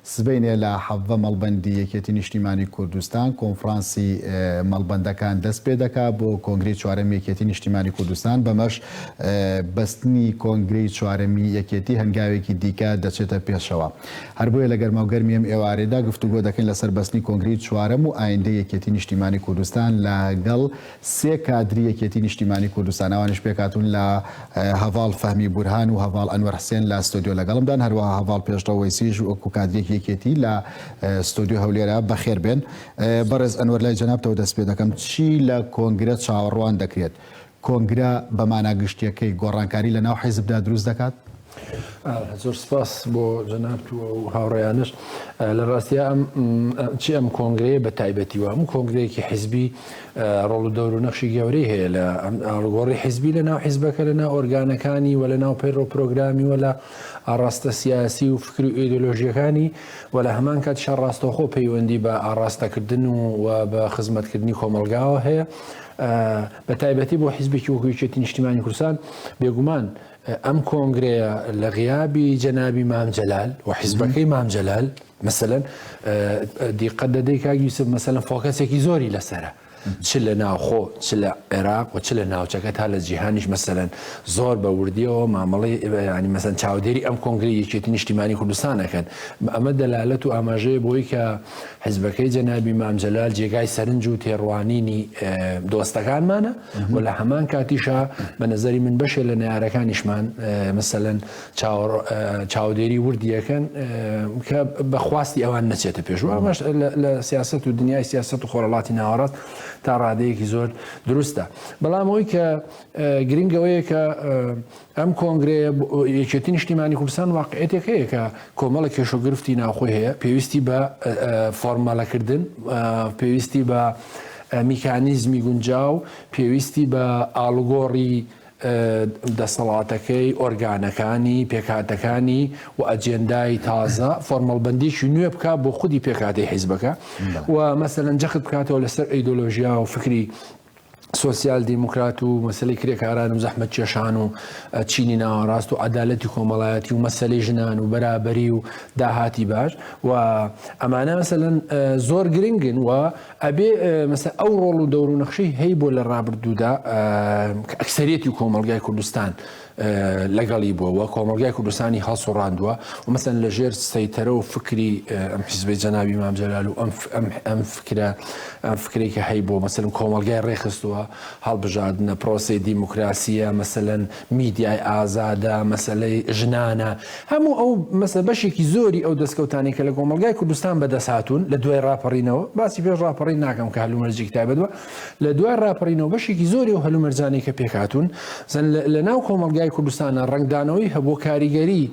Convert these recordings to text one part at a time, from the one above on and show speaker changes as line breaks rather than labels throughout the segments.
سبەینێ لە حەڤە مەڵبەندی یەکێتی نیشتیمانی کوردستان کۆنفرانسی مەڵبەندەکان دەست پێ دەکا بۆ کۆنگری چوارەمی یەکێتی نیشتیمانی کوردستان بەمەش بەستنی کۆنگری چوارەمی یەکێتی هەنگاوێکی دیکە دەچێتە پێشەوە هەر بۆیە لە گەرماو گەرمی ئەم ئێوارێدا گفتوگۆ دەکەین لەسەر بەستنی کۆنگری چوارەم و ئایندە یەکێتی نیشتیمانی کوردستان لەگەڵ سێ کادری یەکێتی نیشتیمانی کوردستان ئەوانیش پێکهاتوون لە هەڤاڵ فەهمی بورهان و هەڤاڵ ئەنوەر حسێن لە ستۆدیۆ لەگەڵمدان هەروەها هەڤاڵ پێشڕەو وەیسیش وەکو کادرێکی یەکێتی لە ستۆدیۆ هەولێرە بەخێربێن بەڕێز ئەنوەر لای جەنابتەوە دەست پێ دەکەم چی لە کۆنگرە چاوەڕوان دەکرێت کۆنگرە بە مانا گشتیەکەی گۆڕانکاری لە ناو حیزبدا دروست دەکات؟ زۆر
سپاس بۆ جەنابت و ئەو هاوڕێیانش لە ڕاستیا ئەم چی ئەم کۆنگرەیە بە تایبەتی و هەموو کۆنگرەیەکی حیزبی ڕۆڵ و دەور و نەخشی گەورەی هەیە لە ئاڵگۆڕی حیزبی لە ناو حیزبەکە لە ناو ئۆرگانەکانی و لە ناو پەیڕۆ پرۆگرامی و لە ئاڕاستە سیاسی و فکر و ئیدۆلۆژیەکانی و لە هەمان کات شە ڕاستەخۆ پەیوەندی بە ئاڕاستەکردن و بە خزمەتکردنی کۆمەلگاوە هەیە بە تایبەتی بۆ حیزبێکی وەکوچێتی نیشتیمانی کوردستان بێگومان ئەم کۆنگرەیە لە غیابی جەنابی مام جەلال و حیزبەکەی مام جەلال مثلەن دیقەت دەدەی کاگیوسف مەسەلەن فۆکەسێکی زۆری لەسرە. چ لە ناوخۆ چ لە عێراق و چ لە ناوچەکە تا لە جیهانیش مەسەرەن زۆر بە وردیەوە مامەڵی ینی مەسەن چاودێری ئەم کۆنگری یەکێت نیشتیمانی کوردستانەکەن ئەمە دەلالەت و ئاماژەیە بۆی کە حزبەکەی جەنابی مامجلال جێگای سەرنج و تێڕوانینی دۆستەکانمانە. و لە هەمان کاتیشا بە نظری من بەشێ لە نارەکانیشمان مثلەن چاودێری وردیەکەن کە بەخواستی ئەوان نەچێتە پێشوە ئەمەش لە سیاست و دنیای سیاست و خۆرەڵاتی ناوەڕاست تا ڕادەیەکی زۆر دروستە بەڵام ئەوی کە گرنگەوەیە کە ئەم کۆنگرەیە یەکێتی نیشتیمانی کوردستان واقعێتێک هەیە کە کۆمەڵە کێش و گرفتی ناوخۆی هەیە پێویستی بە فۆرمەلەکردن پێویستی بە میکانیزمی گونجاو پێویستی بە ئالگۆڕی دەسەڵاتەکەی ئۆرگانەکانی پێکاتەکانی و ئەجێندای تازە فۆرمەڵبندیکی نوێ بک بۆ خودی پێکاتی حیزبەکە و مەسەرەن جەخت بکاتەوە لەسەر ئەیدۆلۆژیا و فکری سۆسیال دیموکرات و مەسلەی کرێکاران و زەحمەت کێشان و چینی ناوەڕاست و عدالەتی کۆمەڵایەتی و مەسلەی ژنان و بەرابەری و داهاتی باش و ئەمانە مەسەلەن زۆر گرنگن و ئەبێ مەسە ئەو ڕۆڵ و دەور و نەخشەی هەی بۆ لە ڕابردوودا ئەکسریەتی کۆمەلگای کوردستان لەگەڵی بووە و کۆمەڵگای کوردستانی هەڵسوڕاندووە و مەسەن لە ژێر سەیتەرە و فکری ئەم حیزبی جەناوی مامجلال و ئەم ئەم فکرە ئەم فکری کە هەی بۆ مەسەن کۆمەلگای ڕێخستووە هەڵبژاردنە پرۆسی دیموکراسیە مەسەن میدیای ئازادە مەسلەی ژنانە هەموو ئەو مەسە بەشێکی زۆری ئەو دەستکەوتانی کە لە کۆمەلگای کوردستان بەدەسهاتون لە دوای ڕاپەڕینەوە باسی پێش ڕاپەڕی ناکەم کە هەلومەرجێک تایبەت بە لە دوای ڕاپەڕینەوە بەشێکی زۆری و هەلومەرجانی کە پێکهاتون زەن لە ناو کۆمەلگای کوردستانە ڕنگدانەوەی هەبوو کاریگەری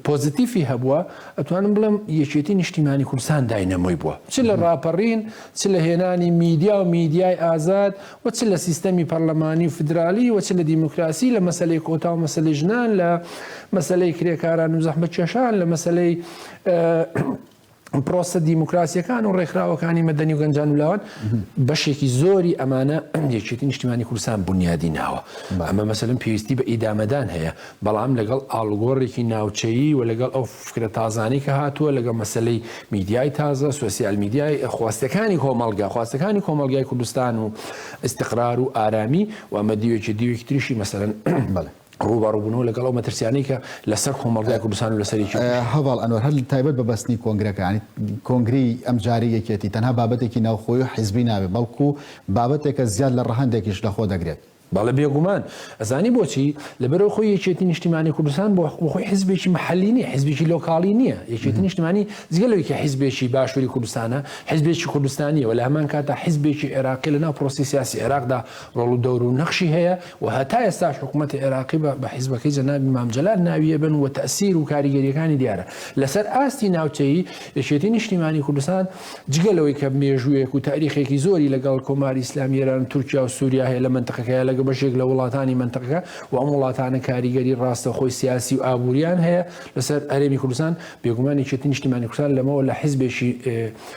پۆزیتیفی هەبووە ئەتوانم بڵم یەکێتی نیشتیمانی کوردستان داینەمۆی بووە چ لە ڕاپەڕین چ لە هێنانی میدیا و میدیای ئازاد و چ لە سیستەمی پەرلەمانی و فدرالی و چ لە دیموکراسی لە مەسلەی کۆتا و مەسلی ژنان لە مەسلەی کرێکاران و زەحمە کێشان لە مەسلەی پرۆسە دیموکراسیەکان و ڕێکخراوەکانی مەدەنی و گەنجان و لاوان بەشێکی زۆری ئەمانە یەکێتی نیشتیمانی کوردستان بنیادی ناوە ئەمە مەسلم پێویستی بە ئیدامەدان هەیە بەڵام لەگەڵ ئالگۆڕێکی ناوچەیی و لەگەڵ ئەو فکرە تازانی کە هاتووە لەگەڵ مەسلەی میدیای تازە سوسیال میدیای خواستەکانی کۆمەلگا خواستەکانی کۆمەلگای کوردستان و استقرار و ئارامی و ئەمە دیوێکی دیوێکی تریشی مەسەرەن بڵێ ڕووبەڕووبوونەوە لەگەڵ ئەو مەترسیانەی کە لەسەر کۆمەڵگای کوردستان و لەسەر هەواڵ ئەنوەر هەر
تایبەت بە بەستنی کۆنگرەکانی کۆنگری ئەم جاری یەکێتی تەنها بابەتێکی ناوخۆی و حیزبی نابێت بەڵکو بابەتێکە زیاد لە ڕەهندێکیش لەخۆ دەگرێت بەڵە بێگومان
ئەزانی بۆچی لەبەرەوە خۆی یەکێتی نیشتیمانی کوردستان بۆ خۆی حزبێکی محلی نیە حزبێکی لۆکاڵی نییە یەکێتی نیشتمانی جگەلەوەیکە حزبێکی باشووری کوردستانە حزبێکی کوردستانیەوە لە هەمان کاتا حزبێکی عێراقی لەناو پرۆسی سیاسی عێراقدا ڕۆڵ و دەور و نەخشی هەیە و هەتا ئێستاش حکومەتی عێراقی بە حیزبەکەی جەنابی مام جەلال ناوی ئەبەن و تەئسیر و کاریگەریەکانی دیارە لەسەر ئاستی ناوچەیی، یەکێتی نیشتیمانی کوردستان جگە لەوەی کە مێژوویەک و تاریخێکی زۆری لەگەڵ کۆماری ئیسلامی ئێران و تورکیا و سوریا هەیە لە مەنتقەکەیا لەگە بەشێک لە وڵاتانی مەنتقەکە و ئەم وڵاتانە کاریگەری ڕاستەوخۆی سیاسی و ئابووریان هەیە لەسەر هەرێمی کوردستان بێگومان یەکێتی نیشتیمانی کوردستان لەمەوە لە حیزبێکی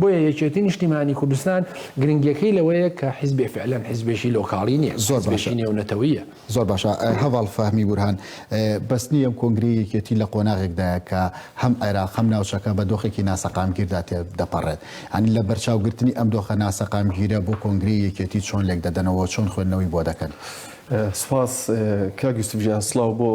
بۆیە یەکێتی نیشتیمانی کوردستان گرنگیەکەی لەوەیە کە حیزبێ فعلەن حیزبێکی لۆکاڵی نیە زۆر باشە نێونەتەویە. زۆر باشە
هەڤاڵ فەهمی بورهان بەستنی ئەم کۆنگرەی یەکێتی لە قۆناغێکدایە کە هەم عێراق هەم ناوچەکە بە دۆخێکی ناسەقامگیردا تێ دەپەڕێت یانی لە بەرچاوگرتنی ئەم دۆخە ناسەقامگیرە بۆ کۆنگرەی یەکێتی چۆن لێک دەدەنەوە چۆن خوێندنەوەی بۆ دەکەن؟ سوپاس
کاک یوسف گیان سڵاو بۆ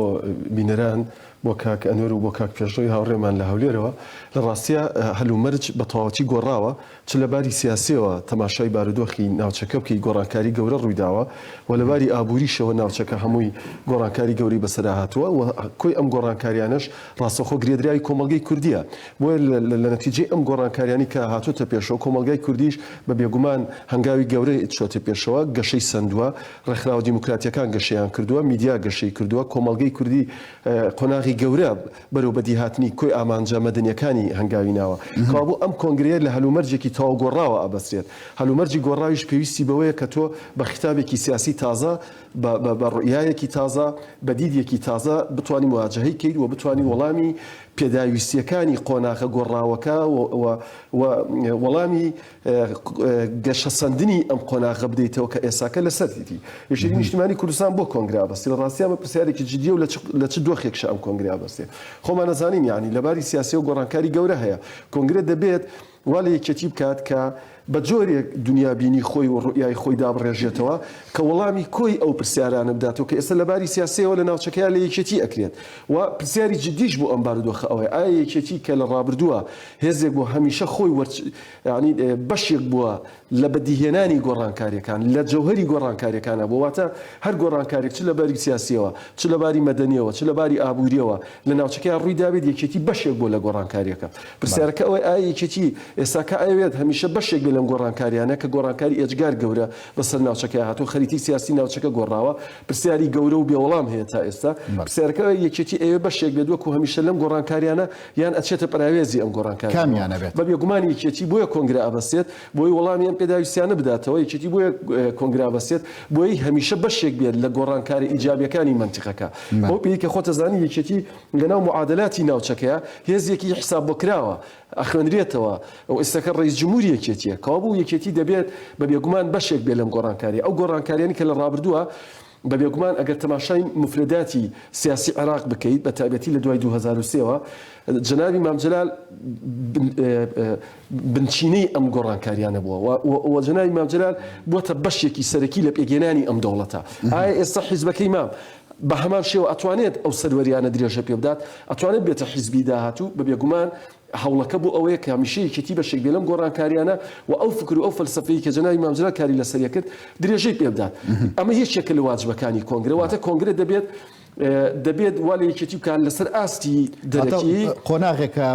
بینەران. بۆ کاک ئەنوەر و بۆ کاک پێشڕەوی هاوڕێمان لە هەولێرەوە، لە ڕاستیا هەلومەرج بە تەواوەتی گۆڕاوە، چ لە باری سیاسییەوە تەماشای بارودۆخی ناوچەکە بکەی گۆڕانکاری گەورە ڕوویداوە و لە باری ئابووریشەوە ناوچەکە هەمووی گۆڕانکاری گەورەی بەسەرا هاتووە و کۆی ئەم گۆڕانکاریانەش ڕاستەوخۆ گرێدراوی کۆمەڵگەی کوردییە، بۆیە لە نەتیجەی ئەم گۆڕانکاریانەی کە هاتۆتە پێشەوە کۆمەڵگای کوردیش بە بێگومان هەنگاوی گەورە چووەتە پێشەوە، گەشەی سەندووە، ڕێکخراوە دیموکراتییەکان گەشەیان کردووە، میدیا گەشەی کردووە، کۆمەڵگەی کوردی قۆناغی گەورە بەرەو بەدیهاتنی کۆی ئامانجە مەدەنییەکانی هەنگاوی ناوە. کەوابوو ئەم کۆنگرەیە لە هەلومەرجێکی تەواو گۆڕاوە ئەبەسترێت. هەلومەرجی گۆڕاویش پێویستی بەوەیە کە تۆ بە خیتابێکی سیاسی تازە، بە ڕوئیایەکی تازە، بە دیدێکی تازە بتوانی موواجەهەی کەیت و بتوانی وەڵامی پێداویستییەکانی قۆناغە گۆڕاوەکە و وەڵامی گەشەسەندنی ئەم قۆناغە بدەیتەوە کە ئێساکە لەسەر دیتی یەکێتی نیشتمانی کوردستان بۆ کۆنگرا بەستی لە ڕاستی ئەمە پرسیارێکی جددیە و لە چ دۆخێکش ئەم کۆنگرا بەستێ خۆمان نەزانین یعنی لەباری سیاسی و گۆڕانکاری گەورە هەیە کۆنگرە دەبێت وا لە یەکێتی بکات کە بە جۆرێک دنیابینی خۆی و ڕوئای خۆی دابڕێژێتەوە کە وەڵامی کۆی ئەو پرسیارانە بداتەوە کە ئێستا لەباری سیاسەوە لە ناوچەکەیان لە یەکێتی ئەکرێت و پرسیاری جددیش بۆ ئەم بارودۆخە ئەوەیە ئایا یەکێتی کە لە ڕابردووە هێزێک بۆ هەمیشە خۆی وەرچ یەعنی بەشێک بووە لە بەدیهێنانی گۆڕانکارییەکان، لە جەوهەری گۆڕانکارییەکانە بووە، واتە هەر گۆڕانکارێک چ لە باری سیاسییەوە، چ لە باری مەدەنییەوە، چ لە باری ئابوورییەوە لە ناوچەکەیا ڕووی دابێت، یەکێتی بەشێک بووە لە گۆڕانکارییەکە. پرسیارەکە ئەوەیە ئایا یەکێتی ئێستاکە ئەیەوێت هەمیشە بەشێک بێت لەم گۆڕانکارییانە کە گۆڕانکاری ئێجگار گەورە بەسەر ناوچەکەیا هاتووە، خەریتی سیاسی ناوچەکە گۆڕاوە؟ پرسیاری گەورە و بێوەڵام هەیە تا ئێستا. پرسیارەکە ئەوەیە یەکێتی ئەیەوێت بەشێک بێت وەکو هەمیشە لەم گۆڕانکارییانە یان ئەچێتە پەراوێزی ئەم گۆڕانکارییەوە؟ کامیانە بێت؟ بە بێگومان
یەکێتی بۆیە
کۆنگرە ئەبەستێت، بۆی وەڵامی ئەم پێداویستییانە بداتەوە، یەکێتی بۆیە کۆنگرە ئەبەستێت، بۆی هەمیشە بەشێک بێت لە گۆڕانکارە ئیجابییەکانی مەنتیقەکە. بەو پێیەی کە خۆت ئەزانی یەکێتی لەناو موعادەلاتی ناوچەکەیە، هێزێکی حیساب بۆ کراوە، ئەخوێنرێتەوە و ئیستەکە ڕەیس جموری یەکێتییە. کەوابوو یەکێتی دەبێت بە بێگومان بەشێک بێت لەم گۆڕانکارییە. ئەو گۆڕانکارییانەی کە لە ڕابردووە، بە بێگومان ئەگەر تەماشای موفرەداتی سیاسی عێراق بکەیت بە تایبەتی لە دوای دوو هەزار و سێ وە جەنابی مام جەلال بنچینەی ئەم گۆڕانکاریانە بووە و جەنابی مام جەلال بووەتە بەشێکی سەرەکی لە پێگەێنانی ئەم دەوڵەتە ئایا ئێستا حیزبەکەی مام بە هەمان شێوە ئەتوانێت ئەو سەروەریانە درێژە پێ بدات ئەتوانێت بێتە حیزبی داهاتوو بە بێگومان هەوڵەکە بۆ ئەوەیە کە هەمیشە یەکێتی بەشێک بێ لەم گۆڕانکارییانە و ئەو فکر و ئەو فەلسەفەیەی کە جەنابی مام جەلال کاری لەسەر کرد، درێژەی پێ بدات. ئەمە یەکێکە لە واجبەکانی کۆنگرە، واتە کۆنگرە دەبێت دەبێت وا لە یەکێتی بکات لەسەر ئاستی دەرەکی. واتە قۆناغێکە،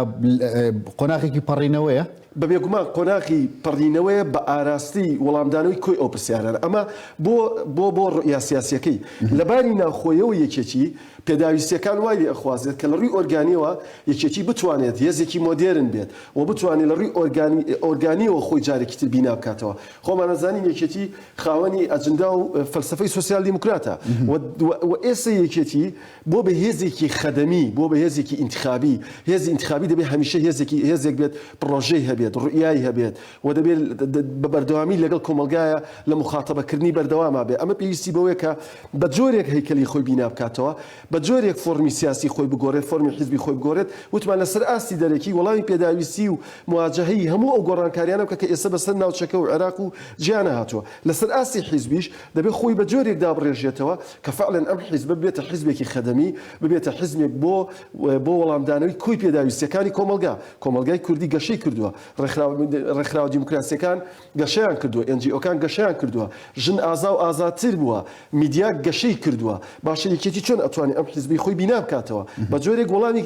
قۆناغێکی پەڕینەوەیە؟ بە بێگومان
قۆناغی پەڕینەوەیە بە ئاراستەی وەڵامدانەوەی کۆی ئەو پرسیارانە. ئەمە بۆ بۆ بۆ ڕوئیا سیاسییەکەی لە باری ناوخۆیەوە یەکێتی، پێداویستییەکان وای لێ ئەخوازێت کە لە ڕووی ئۆرگانییەوە یەکێتی بتوانێت هێزێکی مۆدێرن بێت و بتوانێت لە ڕووی ئۆرگانی ئۆرگانییەوە خۆی جارێکی تر بینا بکاتەوە. خۆمان ئەزانین یەکێتی خاوەنی ئەجندا و فەلسەفەی سۆسیال دیموکراتە و و ئێستە یەکێتی بۆ بە هێزێکی خەدەمی، بۆ بە هێزێکی ئینتخابی، هێزی ئینتخابی دەبێت هەمیشە هێزێکی هێزێک بێت پڕۆژەی هەبێت، ڕوئیای هەبێت، و دەبێ بە بەردەوامی لەگەڵ کۆمەڵگایە لە موخاتەبەکردنی بەردەواما بێ، ئەمە پێویستی بەوەیە کە بە جۆرێک هەیکەلی خۆی بینا بکاتەوە، بە جۆرێک فۆرمی سیاسی خۆی بگۆرێت، فۆرمی حیزبی خۆی بگۆرێت، وتمان لە سەر ئاستی دەرەکی وەڵامی پێداویستی و مواجەهەی هەموو ئەو گۆڕانکاریانە بکە کە ئێستا بە سەر ناوچەکە و عێراق و جیهانە هاتووە، لە سەر ئاستی حیزبیش دەبێ خۆی بە جۆرێک دابڕێژێتەوە کە فەعلەن ئەم حیزبە ببێتە حیزبێکی خەدەمی، ببێتە حیزمێک بۆ بۆ وەڵامدانەوەی کۆی پێداویستییەکانی کۆمەڵگا، کۆمەڵگای کوردی گەشەی کردووە، ڕێکخراوە دیموکراسییەکان گەشەیان کردووە، ئێن جی ئۆکان گەشەیان کردووە، ژن ئازا و ئازاتر بووە، میدیا گەشەی کردووە، باشە یەکێتی چۆن ئەتوانێ ئەم حیزبەی خۆی بینا بکاتەوە؟ بە جۆرێک وەڵامی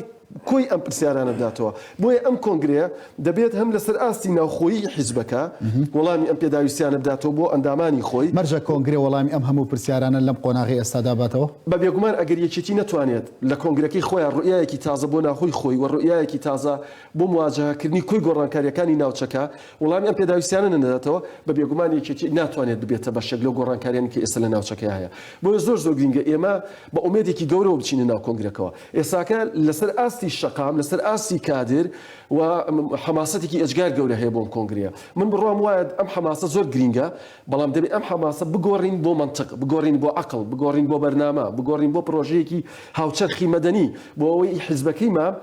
کۆی ئەم پرسیارانە بداتەوە. بۆیە ئەم کۆنگرەیە دەبێت هەم لەسەر ئاستی ناوخۆیی حیزبەکە وەڵامی ئەم پێداویستیانە بداتەوە بۆ ئەندامانی خۆی. مەرجە کۆنگرە وەڵامی
ئەم هەموو پرسیارانە لەم قۆناغەی ئێستادا باتەوە؟ بە بێگومان ئەگەر
یەکێتی نەتوانێت لە کۆنگرەکەی خۆیان ڕوئیایەکی تازە بۆ ناوخۆی خۆی و ڕوئیایەکی تازە بۆ مواجەهەکردنی کۆی گۆڕانکارییەکانی ناوچەکە، وڵامی ئەم پێداویستییانە نەدەداتەوە، بە بێگومان یەکێتی ناتوانێت ببێتە بەشێک لەو گۆڕانکارییانەی کە ئێستا لە ناوچەکەیا هەیە. بۆیە زۆر زۆر گرینگە ئێمە بە ئومێدێکی گەورەوە بچینە ناو کۆنگرەکەوە. ئێستاکە لەسەر ئاستی شەقام، لەسەر ئاستی کادر و حەماسەتێکی ئێجگار گەورە هەیە بۆ ئەم کۆنگرەیە. من بڕوام وایە ئەم حەماسە زۆر گرینگە، بەڵام دەبێت ئەم حەماسە بگۆڕین بۆ مەنتق، بگۆڕین بۆ عەقڵ، بگۆڕین بۆ بەرنامە، بگۆڕین بۆ پڕۆژەیەکی هاوچەرخی مەدەنی، بۆ ئەوەی حیزبەکەیمان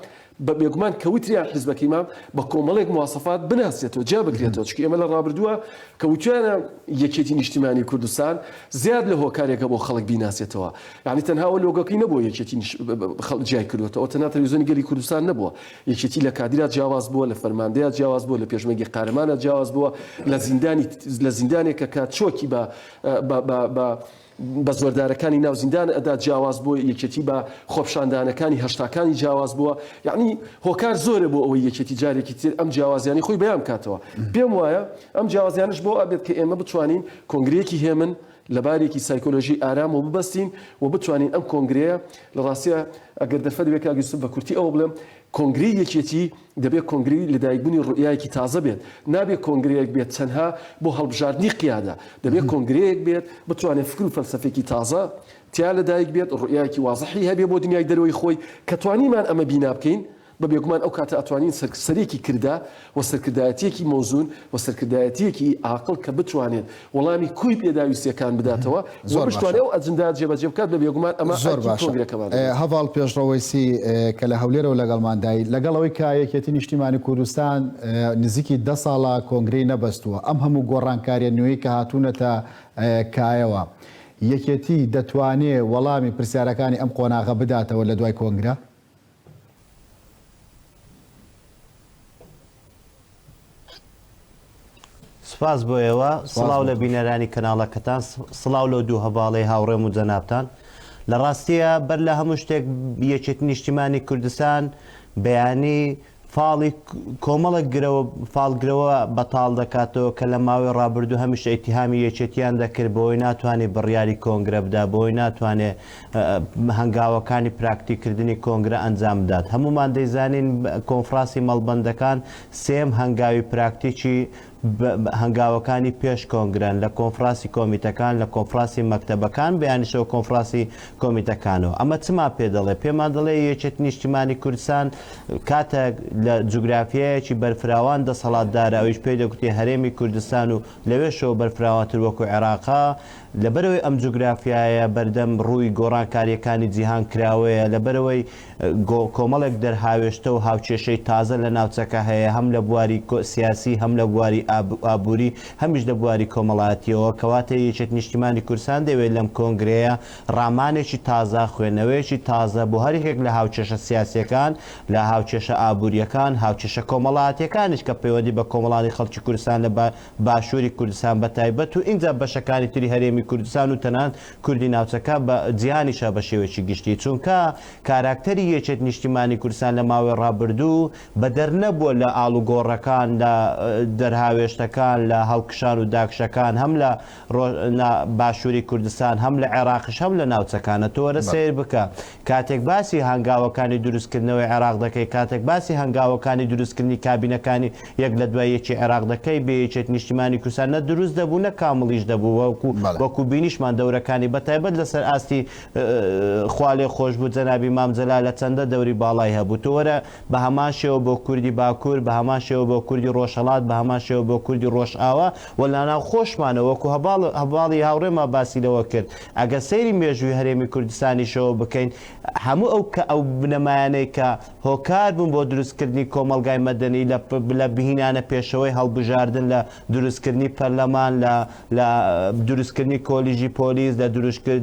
بە بێگومان کە وتریان حیزبەکەی مام بە کۆمەڵێک مواسەفات بناسێتەوە جیا بکرێتەوە چونکە ئێمە لە ڕابردووە کە وتویانە یەکێتی نیشتیمانی کوردستان زیاد لە هۆکارێکە بۆ خەڵک بیناسێتەوە یعنی تەنها ئەو لۆگەکەی نەبووە یەکێتی نیش- ب- ب- ب- خەڵک جیای کردوێتەوە تەنها تەلویزیۆنی گەلی کوردستان نەبووە یەکێتی لە کادیرا جیاواز بووە لە فەرماندەیە جیاواز بووە لە پێشمەرگی قارەمانە جیاواز بووە لە زیندانی لە زیندانێکە کە چۆکی بە بە بە بە بە زۆردارەکانی ناو زیندان ئەدا جیاواز بووە یەکێتی بە خۆپشاندانەکانی هەشتاکانی جیاواز بووە یەعنی هۆکار زۆرە بۆ ئەوەی یەکێتی جارێکی تر ئەم جیاوازیانی خۆی بەیان بکاتەوە پێم وایە ئەم جیاوازیانش بۆ ئەبێت کە ئێمە بتوانین کۆنگرەیەکی هێمن لە بارێکی سایکۆلۆژی ئارام و ببەستین و بتوانین ئەم کۆنگرەیە لە ڕاستیە ئەگەر دەرفەت بێ کاک یوسف بە کورتی ئەوە بڵێم کۆنگرەی یەکێتی دەبێت کۆنگرەی لەدایکبوونی ڕوئیایەکی تازە بێت، نابێت کۆنگرەیەک بێت تەنها بۆ هەڵبژاردنی قیادە، دەبێت کۆنگرەیەک بێت بتوانێت فکر و فەلسەفەیەکی تازە تیا لەدایک بێت، ڕوئیایەکی وازحی هەبێت بۆ دنیای دەرەوەی خۆی، کە توانیمان ئەمە بینا بکەین، بە بێگومان ئەو کاتە ئەتوانین سەرکسەرێکی کردە و سەرکردایەتیەکی مەوزون و سەرکردایەتیەکی ئاقڵ کە بتوانێت وەڵامی کوی پێداویستیەکان بداتەوە و بشتوانێ ئەو ئەجندایە جێبەجێ بکات بە بێگومان ئەمە زۆر باشە
هەڤاڵ پێشڕەوەی سی کە لە هەولێرەوە لەگەڵماندای لەگەڵەوەی کە یەکێتی نیشتیمانی کوردستان نزیکی دە ساڵە کۆنگری نەبەستووە ئەم هەموو گۆڕانکاریە نوێی کە هاتوونەتە کایەوە یەکێتی دەتوانێ وەڵامی پرسیارەکانی ئەم قۆناغە بداتەوە لە دوای کۆنگرە
سپاس بۆ ئێوە سڵاو لە بینەرانی کەناڵەکەتان سڵاو لەو دوو هەواڵی هاوڕێم و جەنابان لە ڕاستیە بەر لە هەموو شتێک یەکێت نیشتیمانی کوردستان بەیانی فاڵی کۆمەڵک گرەوە فالگرەوە بەتاڵ دەکاتەوە کە لە ماوەی ڕابردوو هەمیشە ئیتیهامی یەکێتیان دەکرد بۆی ناتوانێت بڕیاری کۆنگرە بدا بۆی ناتوانێت هەنگاوەکانی پراکتیکردنی کۆنگرە ئەنجام بدات. هەموومان دەیزانین کۆنفراسی مەڵبەندەکان سێیەم هەنگاوی پراکتیکی هەنگاوەکانی پێش کۆنگرەن لە کۆنفراسی کۆمیتەکان، لە کۆنفراسی مەکتەبەکان، بەیانیشەوە کۆنفراسی کۆمیتەکانەوە. ئەمە چمان پێ دەڵێت؟ پێمان دەڵێت یەکێتی نیشتیمانی کوردستان کاتێک لە جوگرافیایەکی بەرفراوان دەسەڵاتدارە، ئەویش پێی دەگوترێت هەرێمی کوردستان و لەوێشەوە بەرفراوانتر وەکو عێراقە، لەبەرئەوەی ئەم جوگرافیایە بەردەم ڕووی گۆڕانکارییەکانی جیهان کراوەیە، لەبەرئەوەی کۆمەڵێک دەرهاوێشتە و هاوکێشەی تازە لە ناوچەکە هەیە، هەم لە بواری سیاسی، هەم لە بواری ئابووری، هەمیش لە بواری کۆمەڵایەتییەوە، کەواتە یەکێتی نیشتیمانی کوردستان دەیەوێت لەم کۆنگرەیە ڕامانێکی تازە، خوێنەوەیەکی تازە بۆ هەر یەکێک لە هاوکێشە سیاسییەکان، لە هاوکێشە ئابوورییەکان، هاوکێشە کۆمەڵایەتییەکانیش کە پەیوەندی بە کۆمەڵانی خەڵکی کوردستان لە باشووری کوردستان بە تایبەت و ئینجا بەشەکانی تری هەرێمی کوردستان و تەنانەت کوردی ناوچەکە بە جیهانیشا بە شێوەیەکی گشتی چونکە کاراکتەری یەکێت نیشتیمانی کوردستان لە ماوەی ڕابردوو بە دەر نەبووە لە ئاڵوگۆڕەکان لە دەرهاوێشتەکان لە هەڵکشان و داکشەکان هەم لە نا باشوری کوردستان هەم لە عێراقیش هەم لە ناوچەکانە تۆ وەرە سەیر بکە کاتێک باسی هەنگاوەکانی دروستکردنەوەی عێراق دەکەی کاتێک باسی هەنگاوەکانی دروستکردنی کابینەکانی یەک لە دوای یەکی عێراق دەکەی بێ یەکێت نیشتیمانی کوردستان نە دروست دەبوو نە کامڵیش دەبوو وەکو بەڵێ وەکو بینیشمان دەورەکانی بە تایبەت لەسەر ئاستی خوا لێ خۆش بوو جەنابی مام جەلال لە چەندە دەوری باڵای هەبوو تۆ وەرە بە هەمان شێوە بۆ کوردی باکوور، بە هەمان شێوە بۆ کوردی ڕۆژهەڵات، بە هەمان شێوە بۆ کوردی ڕۆژئاوا و لە ناوخۆشمانەوە، وەکوو هەڤاڵ هەڤاڵی هاوڕێمان باسی لەوە کرد، ئەگەر سەیری مێژووی هەرێمی کوردستانیشەوە بکەین، هەموو ئەو کە ئەو بنەمایانەی کە هۆکار بوون بۆ دروستکردنی کۆمەڵگای مەدەنی لە لە بهینانە پێشەوەی هەڵبژاردن لە دروستکردنی پەرلەمان، لە لە دروستکردنی کۆلیژی پۆلیس، لە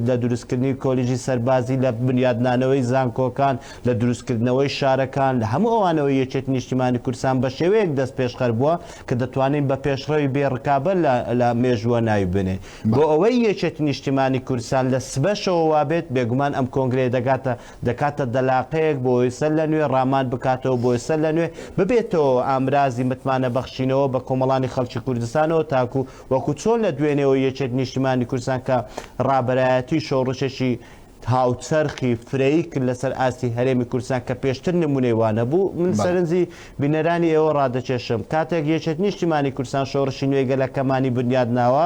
لە دروستکردنی کۆلیژی سەربازی، لە بنیادنانەوەی زانکۆکان، لە دروستکردنەوەی شارەکان، لە هەموو ئەوانەوە یەکێتی نیشتیمانی کوردستان بە شێوەیەک دەستپێشخەر بووە کە دەتوانین بە پێشڕەوی بێ ڕکابەر لە لە مێژووە ناوی بنێین. بۆ ئەوەی یەکێتی نیشتیمانی کوردستان لە سبەشەوە وابێت، بێگومان ئەم کۆنگرەیە دەگاتە دەکاتە دەلاقەیەک بۆی سەر لە نوێ ڕامان بکاتەوە بۆی سەر لە نوێ ببێتەوە ئامرازی متمانە بەخشینەوە بە کۆمەڵانی خەڵکی کوردستانەوە تاکو وەکو چۆن لە دوێنێوە یەکێت نیشتیمانی کوردستان کە ڕابەرایەتی شۆڕشێکی هاوچەرخی فرەیی کرد لەسەر ئاستی هەرێمی کوردستان کە پێشتر نمونەی وا نەبوو من سەرنجی بینەرانی ئێوە ڕادەکێشم کاتێک یەکێت نیشتیمانی کوردستان شۆڕشی نوێی گەلەکەمانی بنیاد ناوە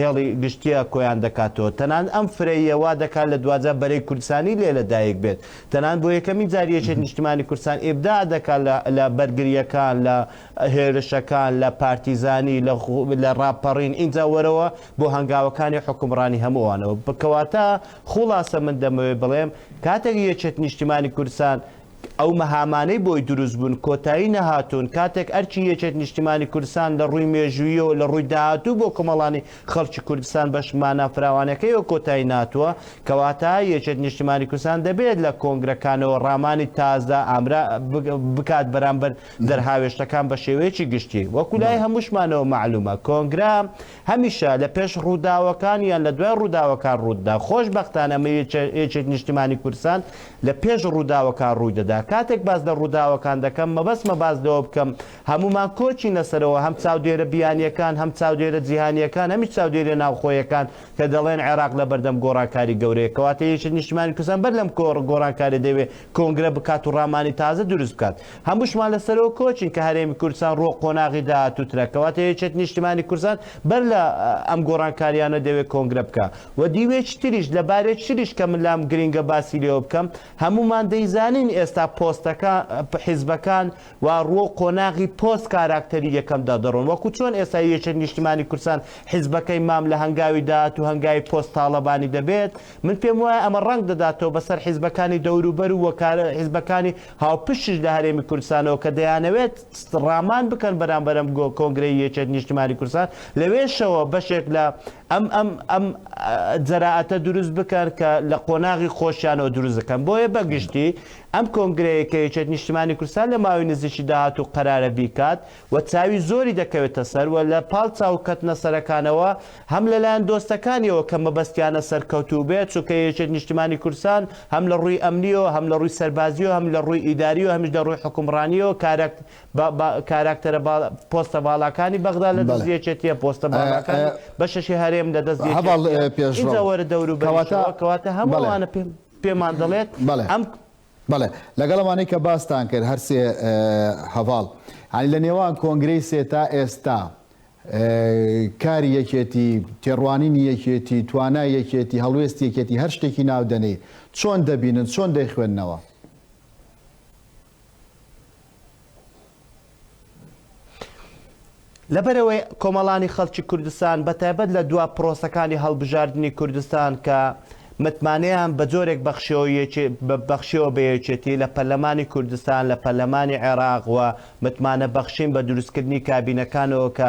هێڵی گشتیە کۆیان دەکاتەوە تەنانەت ئەم فرەییە وا دەکات لە دواجار بەرەی کوردستانی لێ لە دایک بێت تەنانەت بۆ یەکەمین جار یەکێتی نیشتمانی کوردستان ئیبداع دەکات لە لە بەرگریەکان لە هێرشەکان لە پارتیزانی لە لە ڕاپەڕین ئینجا وەرەوە بۆ هەنگاوەکانی حوکمڕانی هەموو ئەوانەوە کەواتە خوڵاسە من دەمەوێت بڵێم کاتێک یەکێتی نیشتمانی کوردستان ئەو مەهامانەی بۆی دروست بوون کۆتایی نەهاتوون، کاتێک ئەرکی یەکێت نیشتیمانی کوردستان لە ڕووی مێژووییەوە لە ڕووی داهاتوو بۆ کۆمەڵانی خەڵکی کوردستان بەش مانا فراوانەکەیەوە کۆتایی ناتووە، کەواتە یەکێت نیشتیمانی کوردستان دەبێت لە کۆنگرەکانەوە ڕامانی تازە ئامرا بکات بەرامبەر دەرهاوێشتەکان بە شێوەیەکی گشتی وەکو لای هەمووشمانەوە مەعلوومە کۆنگرە هەمیشە لە پێش ڕووداوەکان یان لە دوای ڕووداوەکان ڕوودەدا، خۆشبەختانە ئەمە یەکێک نیشتیمانی کوردستان لە پێش ڕووداوەکان ڕووی دەدا. کاتێک باس لە ڕووداوەکان دەکەم مەبەستمە باس لەوە بکەم هەموومان کۆچینە سەرەوە هەم چاودێرە بیانییەکان هەم چاودێرە جیهانییەکان هەمیش چاودێرە ناوخۆیەکان کە دەڵێن عێراق لە بەردەم گۆڕانکاری گەورەیە کەواتە یەکێک نیشتیمانی کوردستان بەر لەم گۆڕانکاریە دەیەوێت کۆنگرە بکات و ڕامانی تازە دروست بکات هەمووشمان لە سەرەوە کۆچین کە هەرێمی کوردستان ڕووە قۆناغی داهاتووترە کەواتە یەکێتی نیشتیمانی کوردستان بەر لە ئەم گۆڕانکاریانە دەوێت کۆنگرە بکا و دیوێکی تریش لە بارێک تریش کە من لام گرینگە باسی لێوە بکەم هەموومان دەیزانین ئێستا پۆستەکە حیزبەکان و ڕووە قۆناغی پۆست کاراکتەری یەکەمدا دەڕۆن وەکو چۆن ئێستا یەکێت نیشتیمانی کوردستان حیزبەکەی مام لە هەنگاوی داهاتوو هەنگاوی پۆست تاڵەبانی دەبێت من پێم وایە ئەمە ڕەنگ دەداتەوە بەسەر حیزبەکانی دەوروبەر و وەکارە حیزبەکانی هاوپشتیش لە هەرێمی کوردستانەوە کە دەیانەوێت ستڕامان بکەن بەرامبەر ئەم کۆنگرەی یەکێتی نیشتیمانی کوردستان لەوێشەوە بەشێک لە ئەم ئەم ئەم جەرائەتە دروست بکەن کە لە قۆناغی خۆشیانەوە دروست دەکەن بۆیە بەگشتی ئەم کۆنگرەیە کە یەکێتی نیشتیمانی کوردستان لە ماوەی نزیکی داهاتوو قەرارە بیکات و چاوی زۆری دەکەوێتە سەر و لە پاڵ چاو کەتنە سەرەکانەوە هەم لە لایەن دۆستەکانیەوە کە مەبەستیانە سەرکەوتوو بێت چونکە یەکێت نیشتیمانی کوردستان هەم لە ڕووی ئەمنیەوە هەم لە ڕووی سەربازیەوە هەم لە ڕووی ئیداری و هەمیش لە ڕووی حوکمڕانیەوە کارەک بە بە کاراکتەرە با پۆستە باڵاکانی بەغدا لە دەست یەکێتیە پۆستە باڵاکانی بەشەشی هەرێم لە دەست یەکێتیە ئینجا وەرە دەوروبەریشەوە کەواتە هەموو ئەوانە پێم پێمان دەڵێت ئەم بەڵێ
لەگەڵ ئەوانەی کە باستان کرد هەر سێ هەڤاڵ هەنی لە نێوان کۆنگرەی سێ تا ئێستا کاری یەکێتی تێڕوانینی یەکێتی توانای یەکێتی هەڵوێستی یەکێتی هەر شتێکی ناودەنێ چۆن دەبینن چۆن دەیخوێندنەوە
لەبەرئەوەی کۆمەڵانی خەڵکی کوردستان بە تایبەت لە دوا پرۆسەکانی هەڵبژاردنی کوردستان کە متمانەیان بە جۆرێک بەخشیەوە بە یەکێتی لە پەرلەمانی کوردستان لە پەرلەمانی عێراق و متمانە بەخشین بە دروستکردنی کابینەکانەوە کە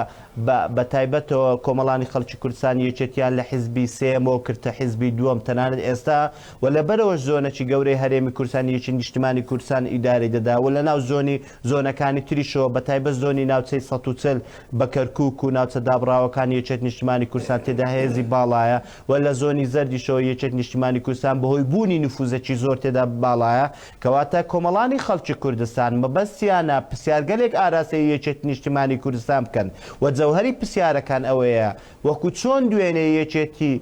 بە تایبەتەوە کۆمەڵانی خەڵکی کوردستان یەکێتیان لە حیزبی سێیەمەوە کردتە حیزبی دووەم تەنانەت ئێستا و لە بەرەوەش زۆنەکی گەورەی هەرێمی کوردستان یەکی نیشتمانی کوردستان ئیدارەی دەدا و لە ناو زۆنی زۆنەکانی تریشەوە بە تایبەت زۆنی ناوچەی سەد و چل بە کەرکوک و ناوچە دابڕاوەکانی یەکێت نیشتمانی کوردستان تێدا هێزی باڵایە و لە زۆنی زەردیشەوە یەکێت نیشتمانی کوردستان بەهۆی بوونی نفوزەکی زۆر تێدا باڵایە کەواتە کۆمەڵانی خەڵکی کوردستان مەبەستیانە پرسیارگەلێک ئاراستەی یەکێتی نیشتمانی کوردستان بکەن و جەوهەری پرسیارەکان ئەوەیە وەکو چۆن دوێنێ یەکێتی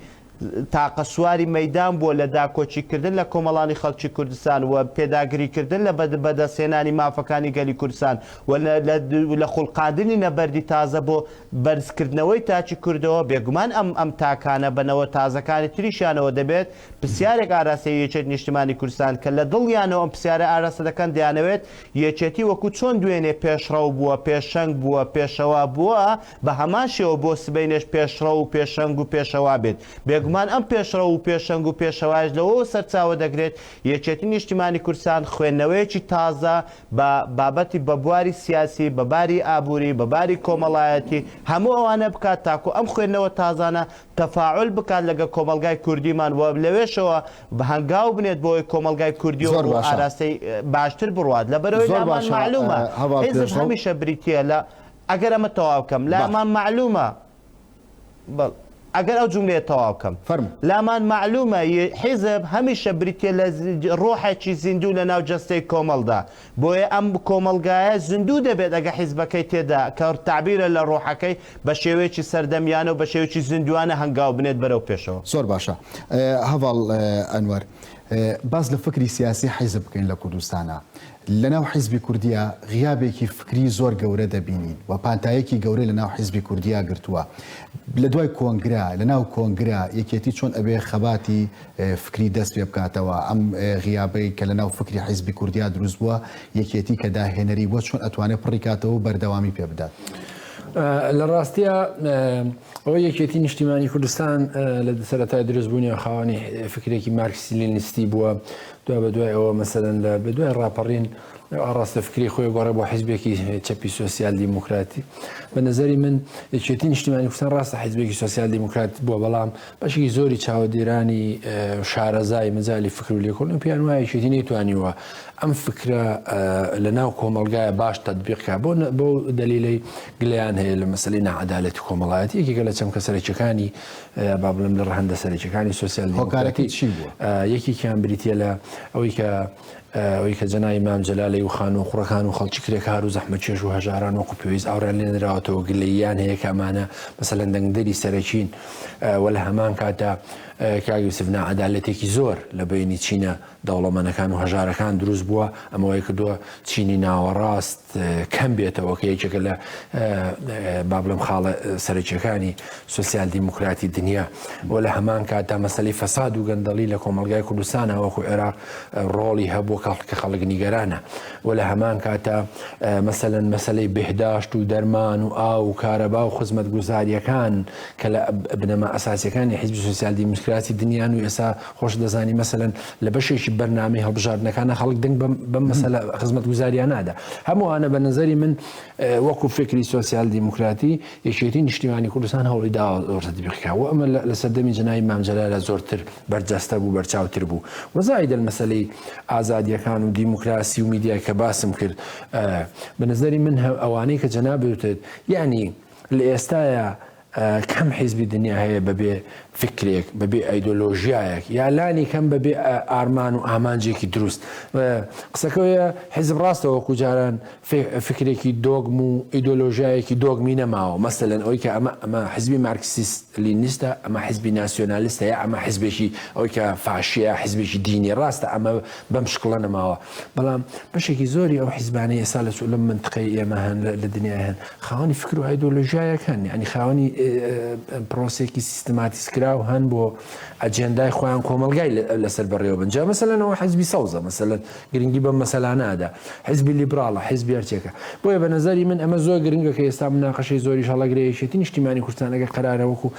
تاقە سواری مەیدان بووە لە داکۆکی کردن لە کۆمەڵانی خەڵکی کوردستان و پێداگری کردن لە بەدەست هێنانی مافەکانی گەلی کوردستان و لە خولقاندنی نەبەردی تازە بۆ بەرز کردنەوەی تاکی کوردەوە بێگومان ئەم ئەم تاکانە بە نەوە تازەکانی تریشیانەوە دەبێت پرسیارێک ئاراستەی یەکێتی نیشتمانی کوردستان کە لە دڵیانەوە ئەم پرسیارە ئاراستە دەکەن دەیانەوێت یەکێتی وەکو چۆن دوێنێ پێشڕەو بووە پێشەنگ بووە پێشەوا بووە بە هەمان شێوە بۆ سبەینێش پێشڕەو و پێشەنگ و پێشەوا بێت. بێگومان ئەم پێشڕەو و پێشەنگ و پێشەوایەش لەوەوە سەرچاوە دەگرێت، یەکێتی نیشتیمانی کوردستان خوێندنەوەیەکی تازە بە بابەتی بە بواری سیاسی، بە باری ئابووری، بە باری کۆمەڵایەتی، هەموو ئەوانە بکات تاکوو ئەم خوێندنەوە تازانە تەفاعول بکات لەگەڵ کۆمەڵگای کوردیمان و لەوێشەوە هەنگاو بنێت بۆی کۆمەڵگای کوردی و زۆر ڕوو باشە. ئاراستەی باشتر بڕوات. لەبەرئەوەی زۆر لامان باشە مەعلوومە هەڤاڵ حیزب پێشڕەو. هەمیشە بریتییە لە ئەگەر ئەمە تەواو کەم لا مان مەعلومە بەڵ ئەگەر ئەو جملەیە تەواو کەم فەرمو لا مان مەعلومە ی حیزب هەمیشە بریتیە لە ڕۆحێکی زیندوو لە ناو جەستەی کۆمەڵدا بۆیە ئەم کۆمەڵگایە زیندوو دەبێت ئەگە حیزبەکەی تێدا کە تەعبیرە لە ڕۆحەکەی بە شێوەیەکی سەردەمیانە و بە شێوەیەکی زیندووانە هەنگاو بنێت بەرەو پێشەوە. زۆر باشە
هەڤاڵ ئەنوەر باس لە فکری سیاسی حیزب بکەین لە کوردستانا. لەناو حیزبی کوردیا غیابێکی فکری زۆر گەورە دەبینین و پانتایەکی گەورەی لەناو حیزبی کوردیا گرتووە لە دوای کۆنگرە لەناو کۆنگرە یەکێتی چۆن ئەبێ خەباتی فکری دەست پێ بکاتەوە ئەم غیابەی کە لەناو فکری حیزبی کوردیا دروست بووە یەکێتی کە داهێنەری بووە چۆن ئەتوانێت پڕی کاتەوە و بەردەوامی پێ بدات. لە
ڕاستیە ئەوە یەکێتی نیشتیمانی کوردستان لە سەرەتای دروستبوونی خاوەنی فکرێکی مارکسی لینیستی بووە دوا بەدوای ئەوە مەسەلەن لە بەدوای ڕاپەڕین ئەو ئاڕاستە فکری خۆی گۆڕێ بۆ حیزبێکی چەپی سۆسیال دیموکراتی بە نظری من یەکێتی نیشتیمانی کوردستان ڕاستە حیزبێکی سۆسیال دیموکرات بووە بەڵام بەشێکی زۆری چاوەدێرانی شارەزای مەجای فکر و لێکۆن و پێیان وایە یەکێتی نەیتوانیوە ئەم فکرە لە ناو کۆمەلگایە باش تدبیقکە بۆ بۆ دلیلی گلیان هەیە لە مەسلی نەعادالەتی کۆمەڵایەتی یەکێکە لە چەمکە سەرەکیەکانی با بڵێم لە ڕەهەندە سەرەکیەکانی سوسیال هۆکارەکەی چی بووە یەکێکیان بریتە لە ئەوەی کە ئەوی کە جەنای مام جەلالی و خان و خوڕەکان و خەڵکی کرێکار و زەحمە چێش و هەژاران وەکو پێویست ئاوریان لێنراوەتەوە گلەیان هەیە کامانە مەسەلەن دەنگدەری سەرەکین وە لە هەمان کاتە کاگوسفنا عدالەتێکی زۆر لە بینی چینە دەوڵەمەنەکان و هەژارەکان دروست بووە ئەمەوەی کردووە چینی ناوەڕاست کەم بێتەوە کە یەکێکە لە با بڵم خاڵە سەرکیەکانی سوسیال دیموکراتی دنیا بۆ لە هەمان کاتدا مەسلی فەساد و گەندەڵی لە کۆمەلگای کوردستانە وەکو عێراق ڕۆڵی هەبوو کاڵ کە خەڵک نیگەرانە و لە هەمان کاتە مەسەەن مەسلەی بهداشت و دەرمان و ئا و کارەبا و خزمەت گوزاریەکان کە لە بنەما ئەساسەکانی حزبی سوسیال دیموکراتی دنیان و ئێسا خۆشت دەزانی مەسەلەن لە بەشێکی بەرنامەی هەڵبژاردنەکانە خەڵک دەنگ بەم مەسەلە خزمەت گوزاریان نادا هەمووانە بە نظری من وەکو فکری سوسیال دیموکراتی یەکێتی نیشتیمانی کوردستان هەوڵی دا زۆرتبیقا و ئەمە لە سەردەمی جنای مامجلالە زۆرتر بەرجەستە بوو بەرچاوتر بوو وەزای دەل مەسلەی ئازادیەکان و دیموکراسی و میدیای کە باسم کرد بە نظری من ئەوانەی کە جەنابێتێت یعنی لە ئێستاە کەم حیزبی دنیا هەیە بەبێ فکرێک بەبێ ئەیدۆلۆژیایەک یا لانی کەم بەبێ ئارمان و ئامانجێکی دروست قسەکەوەیە حیزب ڕاستەوە کوجاران فکرێکی دۆگم و ئیدۆلۆژیایەکی دۆگمی نەماوە مەسەلەن ئەوی کە ئەمە ئەمە حزبی مارکسیست لینیستە ئەمە حزبی ناسیۆنالیستەیە ئەمە حزبێکی ئەوی کە فاشەیە حزبێکی دینی ڕاستە ئەمە بەم شکڵە نەماوە بەڵام بەشێکی زۆری ئەو حیزبانەی ئێستا لە لەم منتقەی ئێمە هەن لە دنیای هەن خاوەنی فکر و ئایدۆلۆژیایەک هەن ینی خاوەنی پرۆسێکی سیستماتیسکراو هەن بۆ ئەجێندای خۆیان کۆمەلگای لەسەر بەڕێوە بنجا مەسەلەنەوە حزبی سەوزە مەسەلەن گرنگی بە مەسەلانادا حزبی لیبراڵە حزبی هەرچێکە بۆیە بە نظری من ئەمە زۆر گرنگە کە ئێستا مناقەشەی زۆری هەڵەگرەیەشێتی نیشتیمانی کوردستانەکە قرارەوەکو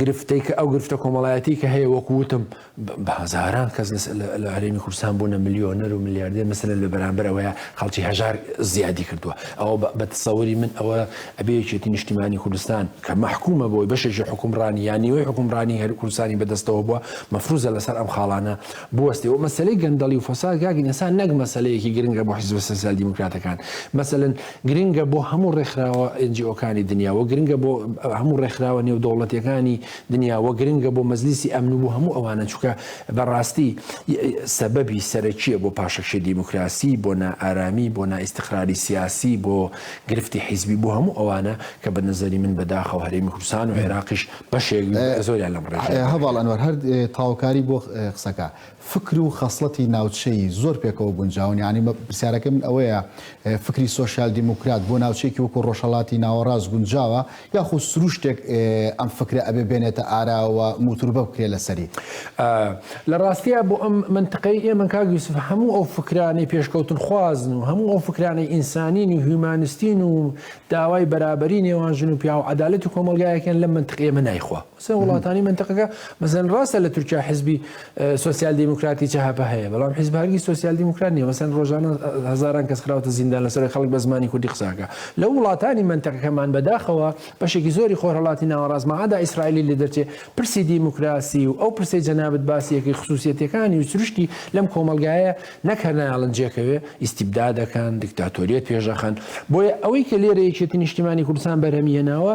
گرفتەی کە ئەو گرفتە کۆمەڵایەتی کە هەیە وەکو وتم بەهزاران کەس لە هەرێمی کوردستان بوونە میلیۆنەر و میلیاردێ مەسەن لە بەرامبەر ئەوەیە خەڵکی هەژار زیادی کردووە ئەوە بە تسەوەری من ئەوە ئەبێکێتی نیشتیمانی کوردستان کە مححکومە بۆی بەشێکی حکومڕانی یانیەوەی حکومڕانی هەر کوردستانی بەدەستەوە بووە مەفروزە لەسەر ئەم خاڵانە بوەستی و مەسلەی گەندەڵی و فساد گاگی ئەسان نەک مەسلەیەکی گرنگە بۆ حیزب سەسیال دیموکراتەکان مەسەن گرنگە بۆ هەموو ڕێکخراوە NGOکانی دنیا وە گرنگە بۆ هەموو ڕێکخراوە نێودەوڵەتیەکانی دنیا وە گرنگە بۆ مەجلیسی ئەمن و بۆ هەموو ئەوانە چونکە بەڕاستی سەبەبی سەرەکیە بۆ پاشەکشەی دیموکراسی بۆ نائارامی بۆ نائیستقراری سیاسی بۆ گرفتی حیزبی بۆ هەموو ئەوانە کە بە نەزەری من بەداخەوە هەرێمی کوردستان و عێراقیش بەشێک زۆریان لەم ڕێژەیە. هەڤاڵ ئەنوەر هەر
تەواوکاری بۆ قسەکە. فکر و خەسڵەتی ناوچەیی زۆر پێکەوە گونجاون، یانی پرسیارەکەی من ئەوەیە فکری سۆسیال دیموکرات بۆ ناوچەیەکی وەکو ڕۆژهەڵاتی ناوەڕاست گونجاوە یاخو سروشتێک ئەم فکرە ئەبێ بێنێتە ئارا و موتوربە بکرێ لەسەری؟ لە
ڕاستیا بۆ ئەم مەنتقەی ئێمە کاک یوسف هەموو ئەو فکرانەی پێشکەوتنخوازن و هەموو ئەو فکرانەی ئینسانین و هیومانستین و داوای بەرابەری نێوان ژن و پیاو و عەدالەتی کۆمەڵگایەکیان لەم مەنتقەی ئێمە نایخوا. سێ وڵاتانی مەنتەقەکە مەسەن ڕاستە لە تورکیا حزبی سوسیال دیموکراتی چهپە هەیە بەڵام حزب هەرگی سوسیال دیموکرات نیە مەسەن ڕۆژانە هزاران کەس خراوتە زیندان لەسەر خەڵک بە زمانی کوردی قساکە لە وڵاتانی مەنتەقەکەمان بەداخەوە بەشێکی زۆری خۆرهڵاتی ناوەڕاست مەعادا ئیسرائیلی لە دەرچێ پرسی دیموکراسی و ئەو پرسی جەنابت باسیەکەی خصوصیەتەکانی و سروشتی لەم کۆمەلگایە نەک هەر نایڵن جێکەوێ ئیسیبدا دەکەن دیکتاتۆریەت پێشەخەن بۆیە ئەوەی کە لێرە یەکێتی نیشتیمانی کوردستان بەرهەمی هێناوە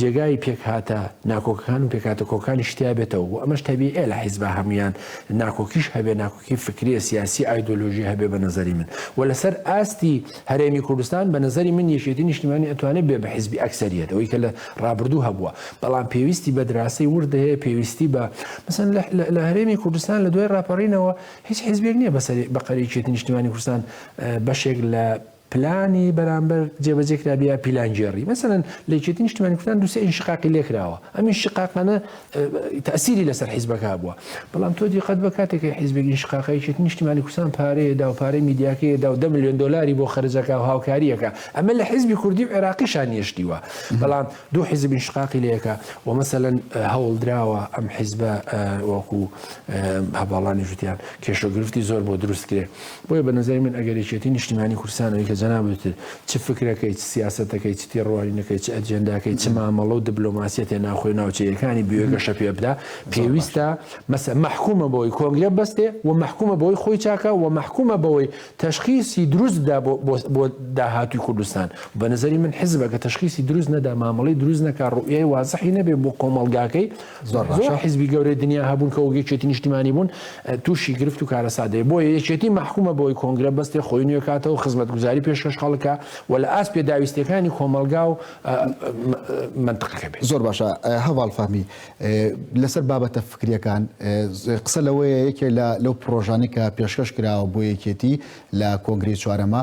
جێگای پێکهاتە ناکۆکەکان و پێکهاتە کۆکانیش تیا بێتەوە و ئەمەش تەبیعیە لە حیزبا هەموویان ناکۆکیش هەبێ ناکۆکی فکریە سیاسی ئایدۆلۆژی هەبێ بە نەزەری من وە لەسەر ئاستی هەرێمی کوردستان بە نەزەری من یەکێتی نیشتیمانی ئەتوانێ بێ بە حیزبی ئەکسەریەت ئەوەی کە لە ڕابردوو هەبووە بەڵام پێویستی بە دراسەی ورد هەیە پێویستی بە مەسەن لە هەرێمی کوردستان لە دوای ڕاپەڕینەوە هیچ حیزبێک نییە بەسەری بەقەری یەکێتی نیشتیمانی کوردستان بەشێک لە پلانی بەرامبەر جێبەجێ کرابێ یا پیلانگێڕی مەسەلەن لە یەکێتی نیشتمانی کوردستان دوو سێ ئینشقاقی لێ کراوە ئەم ئینشقاقانە تەئسیری لەسەر حیزبەکە هەبووە بەڵام تۆ دیقەت بە کاتێک کە حیزبێک ئینشقاقە یەکێتی نیشتمانی کوردستان پارەیە دا و پارەی میدیاکەیە دا و دە ملیۆن دۆلاری بۆ خەرج ئەکا و هاوکارییەکە ئەمە لە حیزبی کوردی و عێراقیشا نیشتیوە بەڵام دوو حیزب ئینشقاقی لێ کە و مەسەلەن هەوڵدراوە ئەم حیزبە وەکوو هەڤاڵانی ژووتیان کێشە و گرفتی زۆر بۆ دروست کرێ بۆیە بە نەزەری من ئەگەر یەکێتی نیشتیمانی کوردستان ئەوی کە جەنابت وتت چ فکرەکەی چ سیاسەتەکەی چ تێڕوانینەکەی چ ئەجێنداکەی چ مامەڵە و دبلۆماسیەتێ ناوخۆی و ناوچەییەکانی بوێ گەشە پێ بدا زۆر باش. پێویستە مەسە مەحکومە بەوەی کۆنگرە بەستێ و مەحکومە بەوەی خۆی چاکە و مەحکومە بەوەی تەشخیسی دروست بدا بۆ بۆ بۆ داهاتووی کوردستان و بە نەزەری من حیزبەکە تەشخیسی دروست نەدا مامەڵەی دروست نەکا ڕوئیای وازحی نەبێ بۆ کۆمەڵگاکەی زۆر حیزبی گەورەی دنیا هەبوون کە وەک یەکێتی نیشتیمانی بوون تووشی گرفت و کارەسات دەبێت بۆیە یەکێتی مەحکومە بۆی کۆنگرە بەستێ خۆی نوێ کاتەوە خزمەتگوزاری پێشکەش خەڵکە و لە ئاست پێداویستیەکانی کۆمەڵگا و منتقەکە بێت زۆر باشە هەواڵ
فەهمی لەسەر بابەتە فکریەکان قسە لەوەیە یەکێ لە لەو پرۆژانێکە پێشکەش کراوە بۆ یەکێتی لە کۆنگری چوارەمە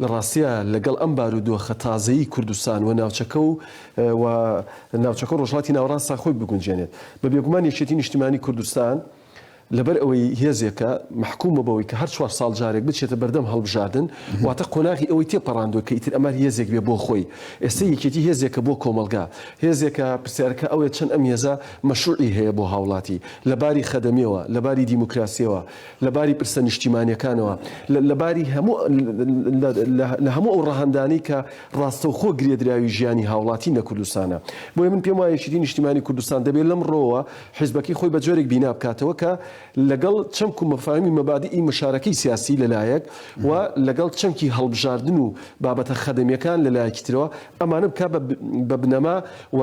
لە ڕاستیا لەگەڵ ئەم بارودۆخە تازەیی کوردستان و ناوچەکە و و ناوچەکە و ڕۆژهەڵاتی ناوەڕاستە خۆی بگونجێنێت، بە بێگومان یەکێتی نیشتیمانی کوردستان لەبەر ئەوەی هێزێکە مەحکومە بەوەی کە هەر چوار ساڵ جارێک بچێتە بەردەم هەڵبژاردن، واتە قۆناغی ئەوەی تێپەڕاندوە کە ئیتر ئەمە هێزێک بێ بۆ خۆی. ئێستە یەکێتی هێزێکە بۆ کۆمەڵگا. هێزێکە پرسیارەکە ئەوەیە چەند ئەم هێزە مەشروعی هەیە بۆ هاوڵاتی؟ لە باری خەدەمیەوە، لە باری دیموکراسیەوە، لە باری پرسە نیشتیمانیەکانەوە، لە باری هەموو لە هەموو ئەو ڕەهەندانەی کە ڕاستەوخۆ گرێدراوی ژیانی هاوڵاتین لە کوردستانە. بۆیە من پێم وایە یەکێتی نیشتیمانی کوردستان دەبێ لەم ڕۆوە حیزبەکەی خۆی بە جۆرێک بینا بکاتەوە کە لەگەڵ چەمک و مەفاهیمی مەبادیئی مشارەکەی سیاسی لە لایەک و لەگەڵ چەمکی هەڵبژاردن و بابەتە خەدەمیەکان لە لایەکی ترەوە ئەمانە بکا بە بنەما و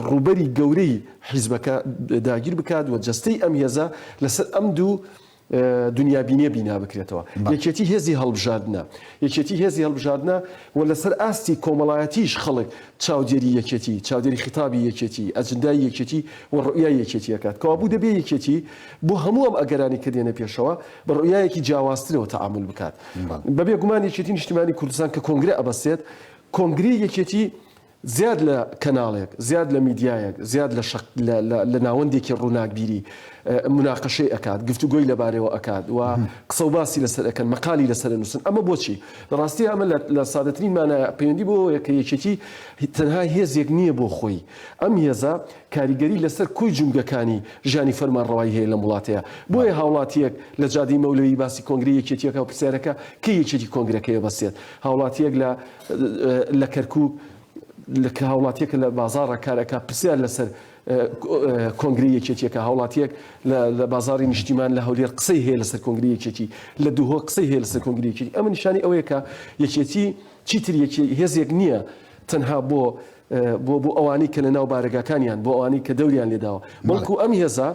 ڕووبەری گەورەی حیزبەکە داگیر بکات و جەستەی ئەم هێزە لەسەر ئەم دوو دونیابینیە بینا بکرێتەوە. یەکێتی هێزی هەڵبژاردنە. یەکێتی هێزی هەڵبژاردنە و لەسەر ئاستی کۆمەڵایەتیش خەڵک چاودێری یەکێتی، چاودێری خیتابی یەکێتی، ئەجندای یەکێتی و ڕوئیای یەکێتی ئەکات. کەوابوو دەبێ یەکێتی بۆ هەموو ئەم ئەگەرانەی کە دێنە پێشەوە بە ڕوئیایەکی جیاوازترەوە تەعامول بکات. بەبێ گومان یەکێتی نیشتیمانی کوردستان کە کۆنگرە ئەبەستێت، کۆنگرەی یەکێتی زیاد لە کەناڵێک، زیاد لە میدیایەک، زیاد لە شەق لە ناوەندێکی ڕووناکبیری موناقەشەی ئەکات، گفتوگۆی لەبارەیەوە ئەکات و قسە و باسی لەسەر ئەکەن، مەقالی لەسەر ئەنووسن، ئەمە بۆچی؟ لە ڕاستیدا ئەمە لە سادەترین مانایە پەیوەندی بەوەیە کە یەکێتی تەنها هێزێک نییە بۆ خۆی، ئەم هێزە کاریگەری لەسەر کۆی جومگەکانی ژیانی فەرمانڕەوایی هەیە لەم وڵاتەیا، بۆیە هاوڵاتییەک لە جادەی مەولەوی باسی کۆنگرەی یەکێتییەکە و پرسیارەکە کەی یەکێتی کۆنگرەکەی ئەبەستێت؟ هاوڵاتییەک لە. لە کەرکوک کە هاوڵاتیەکە لە بازاڕە کار ئەکا پرسیار لەسەر کۆنگرەی یەکێتیەکە هاوڵاتیەک لە بازاڕی نیشتیمان لە هەولێر قسەی هەیە لەسەر کۆنگری یەکێتی لە دهۆک قسەی هەیە لەسەر کۆنگری یەکێتی ئەمە نیشانی ئەوەیە کە یەکێتی چیتر یەکی هێزێک نییە تەنها بۆ بۆ بۆ ئەوانەی کە لە ناو بارەگاکانیان بۆ ئەوانەی کە دەوریان لێداوە بەڵکو ئەم هێزە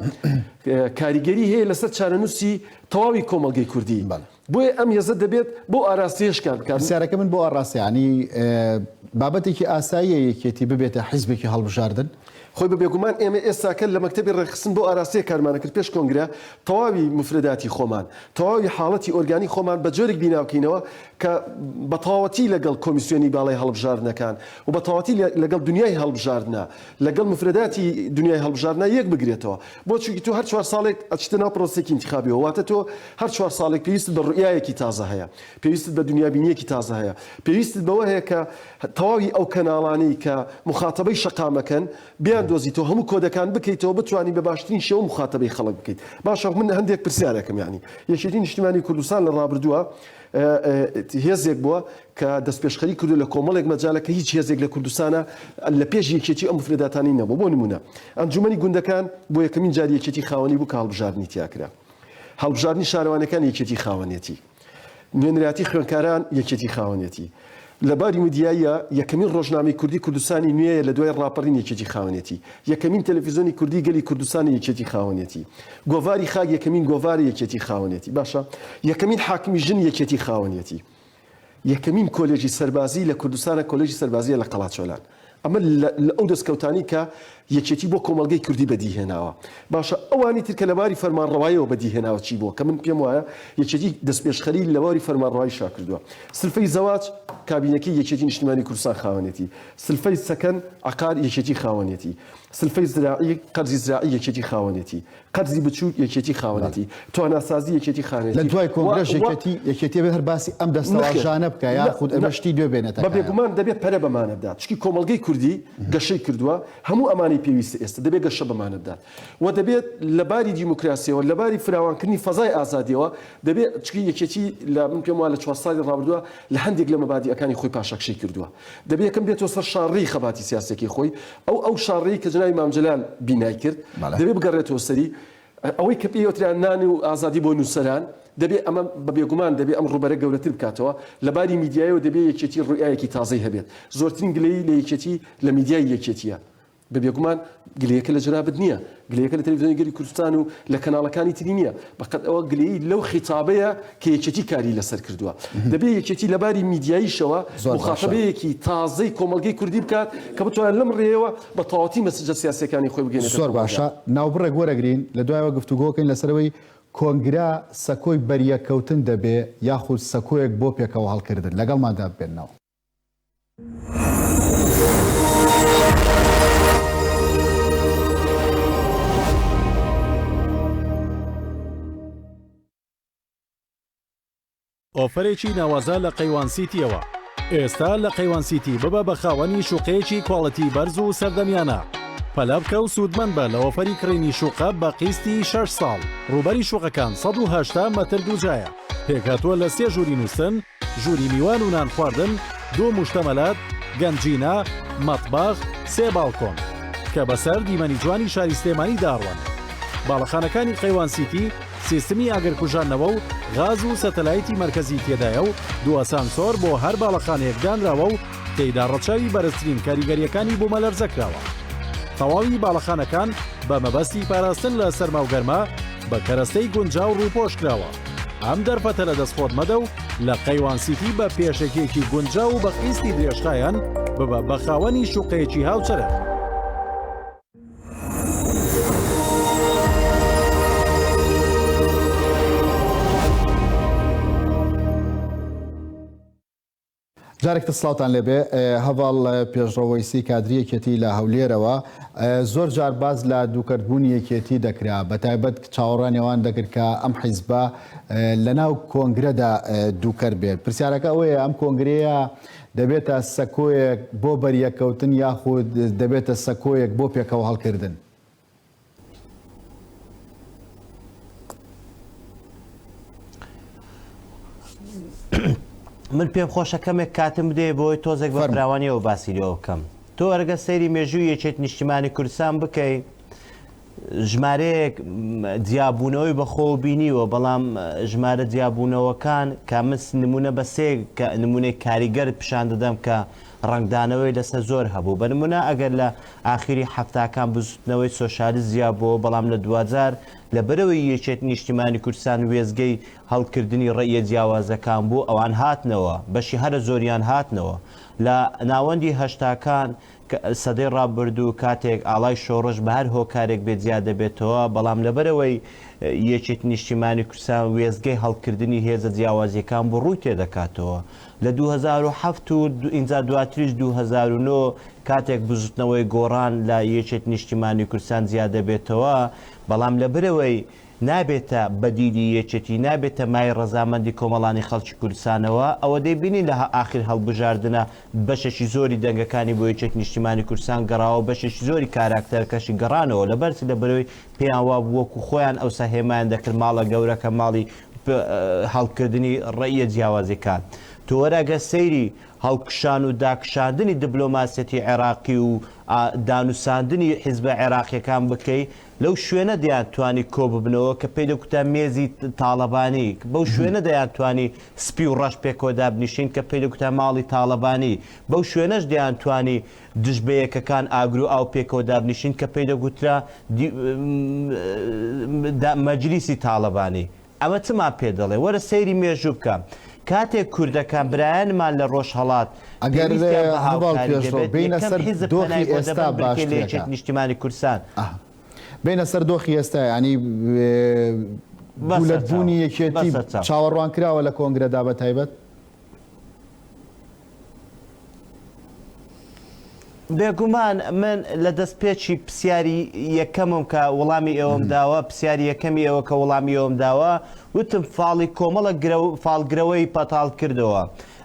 کاریگەری هەیە لەسەر چارەنووسی تەواوی کۆمەڵگەی کوردی بۆیە ئەم هێزە دەبێت بەو ئاراستەیە شکار بکات. پرسیارەکەی من بۆ ئاراستە
یانی بابەتێکی ئاساییە یەکێتی ببێتە حیزبێکی هەڵبژاردن؟ خۆی بە بێگومان
ئێمە ئێستاکە لە مەکتەبی ڕێکخستن بەو ئاراستەیە کارمان دەکرد پێش کۆنگرە تەواوی موفرەداتی خۆمان، تەواوی حاڵەتی ئۆرگانی خۆمان بە جۆرێک بینا بکەینەوە کە بە تەواوەتی لەگەڵ کۆمیسیۆنی باڵای هەڵبژاردنەکان و بە تەواوەتی لەگەڵ دنیای هەڵبژاردنە، لەگەڵ موفرەداتی دنیای هەڵبژاردنە یەک بگرێتەوە. بۆ چونکی تۆ هەر چوار ساڵێک ئەچیتە ناو پرۆسەیەکی ئینتیخابیەوە واتە تۆ هەر چوار ساڵێک پێویستت بە روئیایەکی تازە هەیە پێویستت بە دنیابینیەکی تازە هەیە پێویستت بەوە هەیە کە تەواوی ئەو کەناڵانەی کە موخاتەبەی شەقامەکەن بیاندۆزیتەوە هەموو کۆدەکان بکەیتەوە بتوانی بە باشترین شێوە موخاتەبەی خەڵک بکەیت باشە من هەندێک پرسیارەکەم یانی یەکێتی نیشتیمانی کوردستان لە رابردووە هێزێک بووە کە دەستپێشخەری کردوە لە کۆمەڵێک مەجالە کە هیچ هێزێک لە کوردستانە لە پێش یەکێتی ئەو مفرداتانی نەبوو بۆ نمونە ئەنجومەنی گوندەکان بۆ یەکەمین جار یەکێتی خاوەنی بوو کە هەڵبژاردنی تیاکرا هەڵبژاردنی شارەوانەکان یەکێتی خاوەنێتی نوێنراتی خوێنکاران یەکێتی خاوەنێتی لە باری میدیاییە، یەکەمین ڕۆژنامەی کوردی کوردستانی نوێیە لە دوای ڕاپەڕین یەکێتی خاوەنێتی. یەکەمین تەلەفیزۆنی کوردی گەلی کوردستانە یەکێتی خاوەنێتی. گۆڤاری خاک یەکەمین گۆڤارە یەکێتی خاوەنێتی. باشە یەکەمین حاکمی ژن یەکێتی خاوەنێتی. یەکەمین کۆلێژی سەربازی لە کوردستانە کۆلێژی سەربازیە لە قەڵاچۆلان. ئەمە لە ئەو دەستکەوتانەی کە یەکێتی بۆ کۆمەڵگەی کوردی بەدیهێناوە. باشە ئەوانی تر کە لە باری فەرمانڕەواییەوە بەدیهێناوە چی بووە کە من پێم وایە یەکێتی دەستپێشخەری لە باری فەرمانڕەواییشا کردووە. سلفەی زەواج کابینەکەی یەکێتی نیشتیمانی کوردستان خاوەنێتی. سلفەی سەکەن، عەقار، یەکێتی خاوەنێتی. سلفەی زراعی، قەرزی زراعی، یەکێتی خاوەنێتی. قەرزی بچوک یەکێتی خاوەنێتی تواناسازی یەکێتی خانێتی لە دوای کۆنگرەش یەکێتی
یەکێتی بێ هەر باسی ئەم دەستەواژانە بکە یا خود ئەمە شتی دوێ بێنێتە بە بێگومان دەبێت پەرە
بەمانە بدات چکی کۆمەڵگەی کوردی گەشەی کردووە هەموو ئەمانەی پێویستە ئێستا دەبێت گەشە بەمانە بدات و دەبێت لە باری دیموکراسیەوە لە باری فراوانکردنی فەزای ئازادیەوە دەبێت چکی یەکێتی لە من پێم وا لە چوار ساڵی ڕابردووە لە هەندێک لە مەبادیئەکانی خۆی پاشەکشەی کردووە دەبێ یەکەم بێتەوە سەر شاڕێی خەباتی سیاسیەکەی خۆی، ئەو ئەو شاڕێی کە جەنابی مام جەلال بینای کرد، دەبێ بگەڕێتەوە سەری، ئەوەی کە پێی وترا نان و ئازادی بۆ نووسەران، دەبێ ئەمە بە بێگومان دەبێ ئەم ڕووبەرە گەورەتر بکاتەوە، لە باری میدیایەوە دەبێ یەکێتی ڕوئیایەکی تازەی هەبێت، زۆرترین گلەیی لە یەکێتی لە میدیای یەکێتییە، بە بێگومان گلەیەکە لە جەنابت نییە، گلەیەکە لە تەلەفزیۆنی گەلی کوردستان و لە کەناڵەکانی تری نییە، بەقەد ئەوە گلەیی لەو خیتابەیە کە یەکێتی کاری لەسەر کردووە. دەبێ یەکێتی لە باری میدیاییشەوە موخاتەبەیەکی تازەی کۆمەڵگەی کوردی بکات کە بتوانێت لەم ڕێیەوە بە تەواوەتی مەسجە سیاسییەکانی خۆی بگەیەنێتە کۆمەڵگە. زۆر باشە، ناوبڕێک
وەرەگرین، لە دوایەوە گفتوگۆ بکەین لەسەر ئەوەی کۆنگرە سەکۆی بەریەککەوتن دەبێ یاخود سەکۆیەک بۆ پێکەوەهەڵکردن؟ لەگەڵماندا ببێنەوە.
ئۆفەرێکی ناوازە لە قەیوان سیتیەوە ئێستا لە قەیوان سیتی ببە بە خاوەنی شوقەیەکی کواڵەتی بەرز و سەردەمیانە پەلە بکە و سوودمەند بە لە ئۆفەری کڕینی شوقە بە قیستی 6 ساڵ ڕوبەری شوقەکان 1970 مەتر دووجایە پێکهاتووە لە سێ ژووری نووسن ژووری میوان و نان خواردن، دوو موشتەمەلات، گەنجینە، مەتبەخ، سێ باڵکۆن. کە بە سەر دیمەنی جوانی شاری سلێمانی داڕوانن. باڵەخانەکانی قەیوان سیتی سیستمی ئاگر کوژاندنەوە و غاز و سەتەلایتی مەرکەزی تێدایە و دوو ئەسانسۆر بۆ هەر باڵەخانەیەک دانراوە و تێیدا ڕەچاوی بەرزترین کاریگەرییەکانی بوومەلەرزە کراوە. تەواوی باڵەخانەکان بە مەبەستی پاراستن لە سەرما و گەرما بە کەرەستەی گونجاو ڕووپۆش کراوە. ئەم دەرفەتە لە دەست خۆت مەدە و لە قەیوان سیتی بە پێشەکیەکی گونجاو و بە قیستی درێژخایەن ببە بە خاوەنی شوقەیەکی هاوچەرخ.
جارێک تر سڵاوتان لێبێ. هەڤاڵ پێشڕەو وەیسی کادری یەکێتی لە هەولێرەوە زۆر جار باس لە دووکەرت بوونی یەکێتی دەکرا بە تایبەت چاوەڕانی ئەوان دەکرد کە ئەم حیزبە لە ناو کۆنگرەدا دووکەر بێت پرسیارەکە ئەوەیە ئەم کۆنگرەیە دەبێتە سەکۆیەک بۆ بەریەکەوتن یاخود دەبێتە سەکۆیەک بۆ پێکەوە هەڵکردن
من پێم خۆشە کەمێک کاتم بدێ بۆی تۆزێک بە فراوانیەوە باسی لێ بکەم تۆ ئەرگە سەیری مێژوو یەکێت نیشتیمانی کوردستان بکەیت ژمارەیەک جیابوونەوەی بەخۆ بینیوە بەڵام ژمارە جیابوونەوەکان کامس نمونە بە سێ نمونەی کاریگەر پیشان دەدەم کە ڕنگدانەوەی لەسەر زۆر هەبوو بە نمونە ئەگەر لە ئاخیری حەفتاکان بزوتنەوەی سۆشالیست زیا بۆوە بەڵام لە دواجار لە بەرەوەی یەکێتی نیشتیمانی کوردستان وێستگەی هەڵکردنی ڕەئیە جیاوازەکان بوو ئەوان هاتنەوە بەشی هەرە زۆریان هاتنەوە لە ناوەندی هەشتاکان سەدەی ڕابردوو کاتێک ئاڵای شۆڕش بە هەر هۆکارێک بێت جیا دەبێتەوە بەڵام لە بەرەوەی یەکێتی نیشتیمانی کوردستان وێستگەی هەڵکردنی هێزە جیاوازیەکان بوو ڕووی تێدەکاتەوە لە دوو هەزار و حەفت و ئینجا دواتریش دوو هەزار و نۆ کاتێک بزوتنەوەی گۆڕان لە یەکێت نیشتیمانی کوردستان جیادەبێتەوە بەڵام لە برەوەی نابێتە بەدیلی یەکێتی نابێتە مایەی ڕەزامەندی کۆمەڵانی خەڵکی کوردستانەوە ئەوە دەیبینین لە ئاخیر هەڵبژاردنە بەشێکی زۆری دەنگەکانی بۆ یەکێت نیشتیمانی کوردستان گەڕاوە بەشێکی زۆری کاراکتەرەکەشی گەڕانەوە لەبەرچ لە برەوەی پێیان وابوو وەکو خۆیان ئەوسا هێمایان دەکرد ماڵە گەورەکە ماڵی هەڵکردنی ڕەئیە جیاوازیەکان. تۆ وەرەگە سەیری هەڵکشان و داکشاندنی دبلۆماسیەتی عێراقی و دانوساندنی حیزبە عێراقیەکان بکەی لەو شوێنە دەیان توانی کۆببنەوە کە پێی دەگوتان مێزی تاڵەبانی، بەو شوێنە دەیان توانی سپی و ڕەش پێکەوە دابنیشین کە پێی دەگوتان ماڵی تاڵەبانی، بەو شوێنەش دەیان توانی، دژ بە یەکەکان ئاگر و ئاو پێکەوە دابنیشن کە پێی دەگوترا مەجلیسی تاڵەبانی. ئەمە چمان پێ دەڵێ؟ وەرە سەیری مێژوو بکە. کاتێک کوردەکان، برایانمان لە ڕۆژهەڵات، پێویستیان بە هاوکاری دەبێت،
یەکەم حیزب پەنای بۆ دەبەن بلکێ لە یەکێتی نیشتیمانی کوردستان.
بێینە
سەر دۆخی ئێستا، یانی گولەت بوونی یەکێتی چاوەڕوان کراوە لە کۆنگرەدا بە تایبەت؟
بێگومان من لە دەست پێچی پرسیاری یەکەمم کە وەڵامی ئێوەم داوە پرسیاری یەکەمی ئەوە کە وەڵامی ئەوم داوە وتم فاڵی کۆمەڵە فالگرەوەی پەتاڵ کردەوە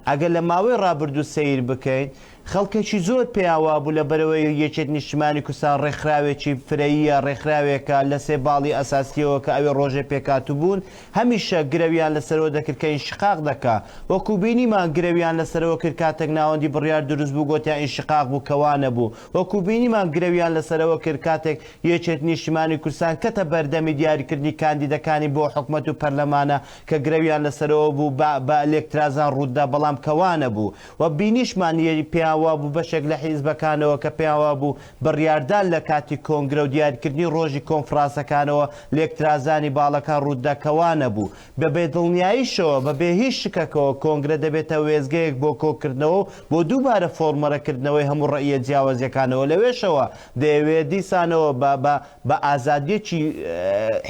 ئەگەر لە ماوەی ڕابردوو سیر بکەین خەڵکێکی زۆر پێیان وابوو لەبەرئەوەی یەکێتی نیشتمانی کوردستان ڕێکخراوێکی فرەییە، ڕێکخراوێکە لە سێ باڵی ئەساسییەوە کە ئەوێ ڕۆژێ پێکهاتووبوون، هەمیشە گرەویان لەسەرەوە دەکرد کە ئینشقاق دەکا. وەکوو بینیمان گرەویان لەسەرەوە کرد کاتێک ناوەندی بڕیار دروست بوو گۆتیان ئینشقاق بوو کە وا نەبوو. وەکوو بینیمان گرەویان لەسەرەوە کرد کاتێک یەکێتی نیشتمانی کوردستان کەتە بەردەمی دیاریکردنی کاندیدەکانی بۆ حکومەت و پەرلەمانە کە گرەویان لەسەرەوە بوو بە بە لێکترازان ڕووت دا بەڵام کە وا نەبوو. و بینیشمان یەی پێیان وابوو بەشێک لە حیزبەکانەوە کە پێیان وابوو بڕیاردان لە کاتی کۆنگرە و دیاریکردنی ڕۆژی کۆنفڕاسەکانەوە لێکترازانی باڵەکان ڕووتدا کە وانەبوو بە بێ دڵنیایشەوە بە بێ هیچ شکەکەوە کۆنگرە دەبێتە وێستگەیەک بۆ کۆکردنەوە و بۆ دووبارە فۆرمەرە کردنەوەی هەموو ڕەئیە جیاوەزیەکانەوە لەوێشەوە دەیەوێت دیسانەوە بە بە بە ئازادیەکی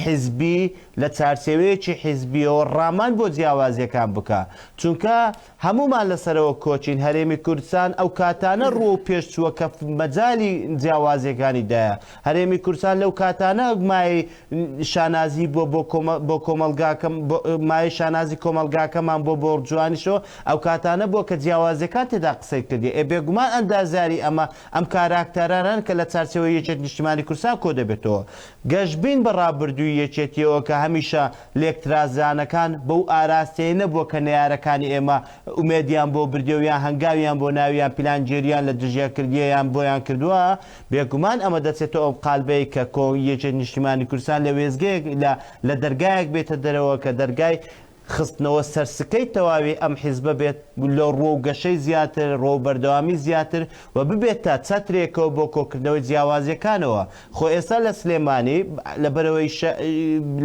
حیزبی لە چارچێوەیەکی حیزبیەوە ڕامان بۆ جیاوازیەکان بکا چونکە هەموومان لە سەرەوە کۆچین هەرێمی کوردستان ئەو کاتانە ڕووە و پێش چووە کە مەجالی جیاوازیەکانی دایە هەرێمی کوردستان لەو کاتانە مایەی شانازی بووە بۆ بۆ کۆمەڵگاکە مایەی شانازی کۆمەڵگاکەمان بۆ بۆڕجوانیشەوە ئەو کاتانە بووە کە جیاوازیەکان تێدا قسەی کردی ئێ بێگومان ئەندازیاری ئەمە ئەم کاراکتەرانەن کە لە چارچێوەی یەکێتی نیشتیمانی کوردستان کۆدەبێتەوە گەشبین بە ڕابردووی یەکێتیەوە کە هەمیشە لێکترازرانەکان بەو ئاراستەیە نەبووە کە نەیارەکانی ئێمە ئومێدیان بۆ بردیە و یان هەنگاویان بۆ ناوی یان پیلانگێرییان لە دژیان کردیە یان بۆیان کردووە، بێگومان ئەمە دەچێتە ئەو قالبەی کە کۆ یەکێت نیشتیمانی کوردستان لە وێستگەیەک لە لە دەرگایەک بێتە دەرەوە کە دەرگای خستنەوە سەر سکەی تەواوی ئەم حیزبە بێت لۆ ڕووەو گەشەی زیاتر، ڕووەو بەردەوامی زیاتر، و ببێتە چەترێکەوە بۆ کۆکردنەوەی جیاوازیەکانەوە، خۆ ئێستا لە سلێمانی لەبەرئەوەی شە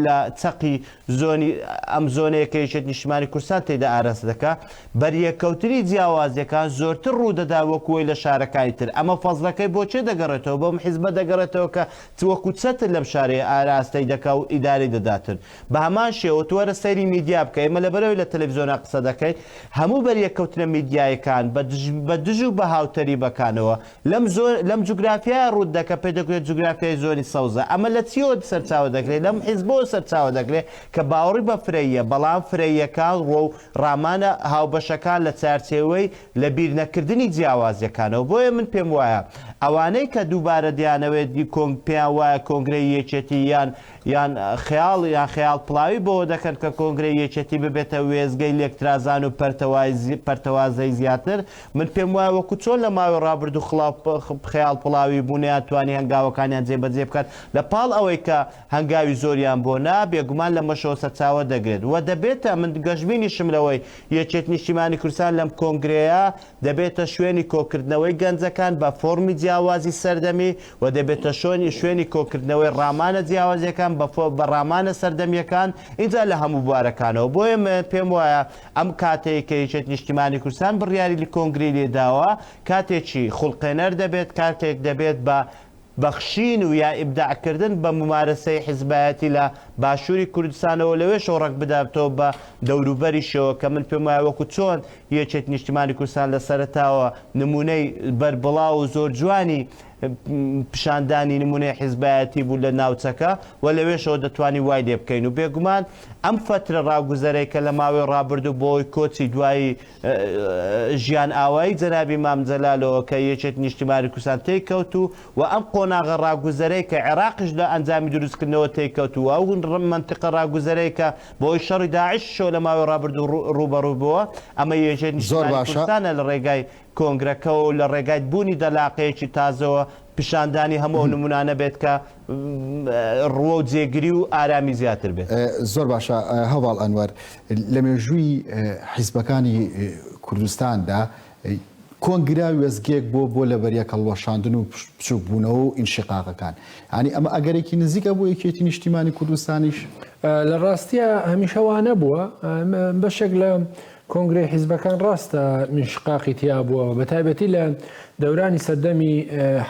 لە چەقی زۆنی ئەم زۆنەیە کە یەکێتی نیشتمانی کوردستان تێیدا ئاراستە دەکا، بەریەککەوتنی جیاوازیەکان زۆرتر ڕوودەدا وەکوەی لە شارەکانی تر، ئەمە فەزڵەکەی بۆ کێ دەگەڕێتەوە بەم حیزبە دەگەڕێتەوە کە وەکو چەتر لەم شارەی ئاراستەی دەکا و ئیدارەی دەداتن، بە هەمان شێوە تۆ وەرە سەیری میدیا بکە، ئێمە لەبەرئەوەی لە تەلەفزیۆنا قسە دەکەین، هەموو بەریەککەوتنە میدیاییەکان بە دژ بە دژ و بە هاوتەریبەکانەوە لەم زۆ لەم جوگرافیایە ڕووت دەکە پێ دەگوێت جوگرافیای زۆنی سەوزە، ئەمە لە چییەوە سەرچاوە دەگرێ لەم حیزبەوە سەرچاوە دەگرێ کە باوەڕی بە فرەییە بەڵام فرەییەکان ڕۆ و ڕامانە هاوبەشەکان لە چارچێوەی لە بیر نەکردنی جیاوازیەکانەوە بۆیە من پێم وایە ئەوانەی کە دووبارە دەیانەوێت کۆنگ پێیان وایە کۆنگرەی یەکێتی یان یان خەیاڵ یان خەیاڵ پڵاوی بەوە دەکەن کە کۆنگرەی یەکێتی ببێتە وێستگەی لێکترازان و پەرتەوازەی زیاتر، من پێم وایە وەکو چۆن لە ماوەی ڕابردوو خەیاڵ پڵاوی بوو نەیانتوانی هەنگاوەکانیان جێبەجێ بکەن لە پاڵ ئەوەی کە هەنگاوی زۆریان بۆ نا، بێگومان لەمەشەوە سەرچاوە دەگرێت و دەبێتە من گەشبینیشم لەوەی یەکێتی نیشتیمانی کوردستان لەم کۆنگرەیە دەبێتە شوێنی کۆکردنەوەی گەنجەکان بە فۆڕمی جیاوازی سەردەمی و دەبێتە شۆنی شوێنی کۆکردنەوەی ڕامانە جیاوازیەکان بە فۆ بە ڕامانە سەردەمیەکان ئینجا لە هەموو بوارەکانەوە بۆیە من پێم وایە ئەم کاتەی کە یەکێت نیشتیمانی کوردستان بڕیاری لە کۆنگرەی لێ داوە کاتێکی خوڵقێنەر دەبێت کاتێک دەبێت بە بەخشین و یا ئیبداع کردن بە مومارەسەی حیزبایەتی لە باشووری کوردستانەوە لەوێشەوە ڕەگ بداتەوە بە دەوروبەریشەوە کە من پێم وایە وەکوو چۆن یەکێتی نیشتیمانی کوردستان لە سەرەتاوە نموونەی بەربڵاو و زۆر جوانی پیشاندانی نمونەی حیزبایەتی بوو لە ناوچەکە و لەوێشەوە دەتوانین وای لێ بکەین و بێگومان ئەم فەترە ڕاگوزەرەی کە لە ماوەی ڕابردوو بۆی کۆچی دوایی ژیان ئاوایی جەنابی مام جەلالەوە کە یەکێتی نیشتیمانی کوردستان تێی کەوت و و ئەم قۆناغە ڕاگوزەرەی کە عێراقیش لە ئەنجامی دروستکردنەوە تێی کەوت و ئەو مەنتیقە ڕاگوزەرەی کە بۆی شەڕی داعشیشەوە لە ماوەی ڕابردوو ڕووبەڕوو بووە ئەمە یەکێتی نیشتیمانی کوردستانە لە ڕێگای کۆنگرەکە و لە ڕێگای بوونی دەلاقەیەکی تازەوە پیشاندانی هەموو ئەو نمونانە بێت کە ڕووە و جێگری و ئارامی زیاتر بێت. زۆر باشە
هەڤاڵ ئەنوەر، لە مێژووی حیزبەکانی کوردستاندا کۆنگرە وێستگەیەک بووە بۆ لەبەریەک هەڵوەشاندن و بچووک بوونەوە و ئینشیقاقەکان، یانی ئەمە ئەگەرێکی نزیکە بۆ یەکێتی نیشتیمانی کوردستانیش؟ لە ڕاستیا
هەمیشە وا نەبووە، بەشێک لە کۆنگرەی حیزبەکان ڕاستە ئینشقاقی تیا بووە، بەتایبەتی لە دەورانی سەردەمی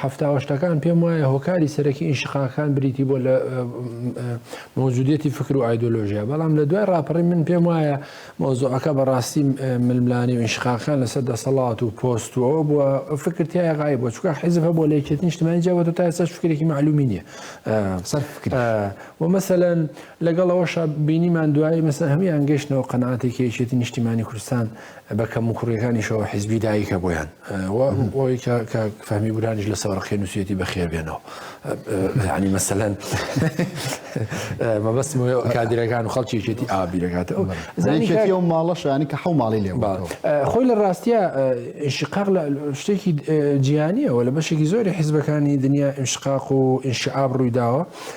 حەفتا و هەشتاکان پێم وایە هۆکاری سەرەکی ئینشقاقەکان بریتی بووە لە مەوجودیەتی فکر و ئایدۆلۆژیا، بەڵام لە دوای ڕاپەڕین من پێم وایە مەوزوعەکە بەڕاستی ململانێ و ئینشقاقەکان لەسەر دەسەڵات و پۆست و ئەوە بووە فکر تیای غایب بووە، چونکە حیزب هەبووە لە یەکێتیی نیشتمانیی جیا بووەتەوە تا ئێستاش فکرێکی مەعلوومی نییە. سەر فکریش. و مەسەلەن لەگەڵ ئەوەشا بینیمان دوایی مەسە هەموان گەشتنەوە قەناتێکی یەکێتی نیشتیمانی کوردستان بە کەم و کوڕیەکانیشەوە حیزبی دایکە بۆیان ئەوەی کە فەهمی بورانیش لە سەوەرقی نووسێتی بەخێر بێنەوە ینی مەسەەن مەبەست کادرەکان و خەڵکی یەکێتی ئابیرەکاتە زانانی و
ماڵەشانی کە حو ماڵی لێ خۆی لە ڕاستە
شقاق لە شتێکی جیانیەوە لە بەشێکی زۆری حیزبەکانی دنیا ئینشقاق و ئینشعاب ڕوویداوە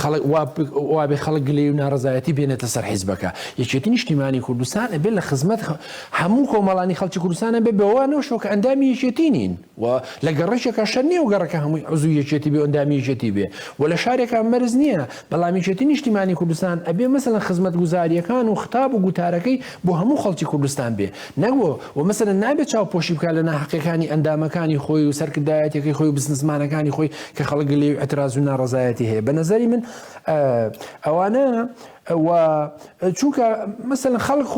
خەڵک وا وابێ خەڵک گلەیی و ناڕەزایەتی بێنێتە سەر حیزبەکە یەکێتی نیشتیمانی کوردستان ئەبێ لە خزمەت هەموو کۆمەڵانی خەڵکی کوردستانە بێ بەوە نەوشەوە کە ئەندامی یەکێتی نین و لە گەڕێکێکە شەر نیە و گەڕەکە هەمووی عزوو یەکێتی بێ ئەندامی یەکێتی بێ و لە شارێکە مەرز نییە بەڵام یەکێتی نیشتیمانی کوردستان ئەبێ مەسەلەن خزمەت گوزاریەکان و خطاب و گوتارەکەی بۆ هەموو خەڵکی کوردستان بێ نەک بۆ و مەسەلەن نابێ چاوپۆشی بکا لە ناحەقیەکانی ئەندامەکانی خۆی و سەرکردایەتەکەی خۆی و بزنسمانەکانی خۆی کە خەڵک لێوی ئەتراز و ناڕەزایەتی هەیە بە نەزەری من ئەوانە و چونکە مەسەن خەڵک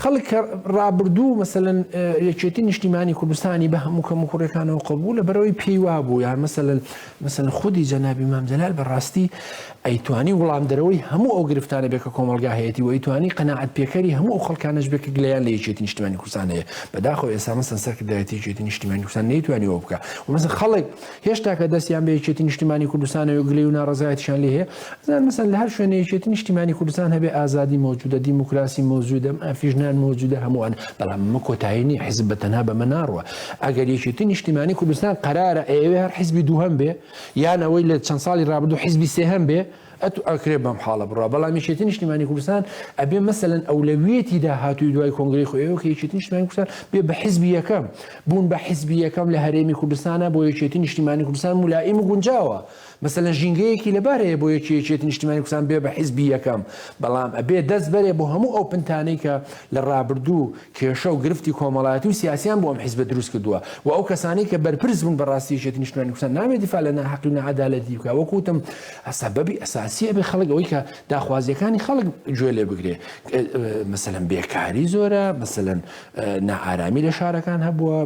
خەڵک ڕابردوو مەسەن یەکێتی نیشتیمانی کوردستانی بە هەموو کەم و کوڕەکانەوە قبول لە بەرەوەی پێیوا بوو یان مەسەن مەسەن خودی جەنابی مامجلال بەڕاستی ئەیتوانی وڵام دەرەوەی هەموو ئەو گرفتانە بێ کە کۆمەلگا هەیەی و ئەیتوانی قەنەعات پێکەری هەموو ئەو خەڵکانش بێک گلیان لە یەکێتی نیشتیمانی کوردستان هەیە بەداخۆ ئێسا مەسەن سەرکردایەتی یەکێتی نیشتیمانی کوردستان نەیتوانی وە بکە ومەسە خەڵک هێشتا کە دەستیان بە یەکێتی نیشتیمانی کوردستانەوە گلەی و ناڕەزایەتیشان لێ هەیە ئەزان مەسەن لە هەر شوێنە یەکێتی نیشتیمانی کوردستان هەبێ ئازادی مەوجودە دیموکراسی مەوجودە مافی ژنان مەوجودە هەمووان بەڵام ئەمە کۆتایی نیە حیزب بە تەنها بەمە ناڕوا ئەگەر یەکێتی نیشتیمانی کوردستان قەرارە ئەیەوێ هەر حیزبی دووهەم بێ یان ئەوەی لە چەند ساڵی ڕابردوو حیزبی سێهەم بێ ئەتو ئەکرێ بەم حاڵە بڕا بەڵام یەکێتی نیشتیمانی کوردستان ئەبێ مەسەلەن ئەولەویەتی داهاتووی دوای کۆنگرەی خۆیەوە کە یەکێتی نیشتیمانی کوردستان بێ بە حیزبی یەکەم بوون بە حیزبی یەکەم لە هەرێمی کوردستانە بۆ یەکێتی نیشتیمانی کوردستان ملائیم و گونجاوە مەسەلەن ژینگەیەکی لەبار هەیە بۆ یەکی یەکێتی نیشتیمانی کوردستان بێ بە حیزبی یەکەم بەڵام ئەبێ دەست بەرێ بۆ هەموو ئەو پنتانەی کە لە ڕابردوو کێشە و گرفتی کۆمەڵایەتی و سیاسیان بۆ ئەم حیزبە دروست کردووە و ئەو کەسانەی کە بەرپرس بوون بەڕاستی یەکێتی نیشتیمانی کوردستان نابێ دیفاع لە ناحەقی و ناعەدالەتی بکا وەکوتم سەبەبی ئەساسی ئەبێ خەڵک ئەوەی کە داخوازیەکانی خەڵک گوێ لێ بگرێ مەسەن بێکاری زۆرە مەسەن نائارامی لە شارەکان هەبووە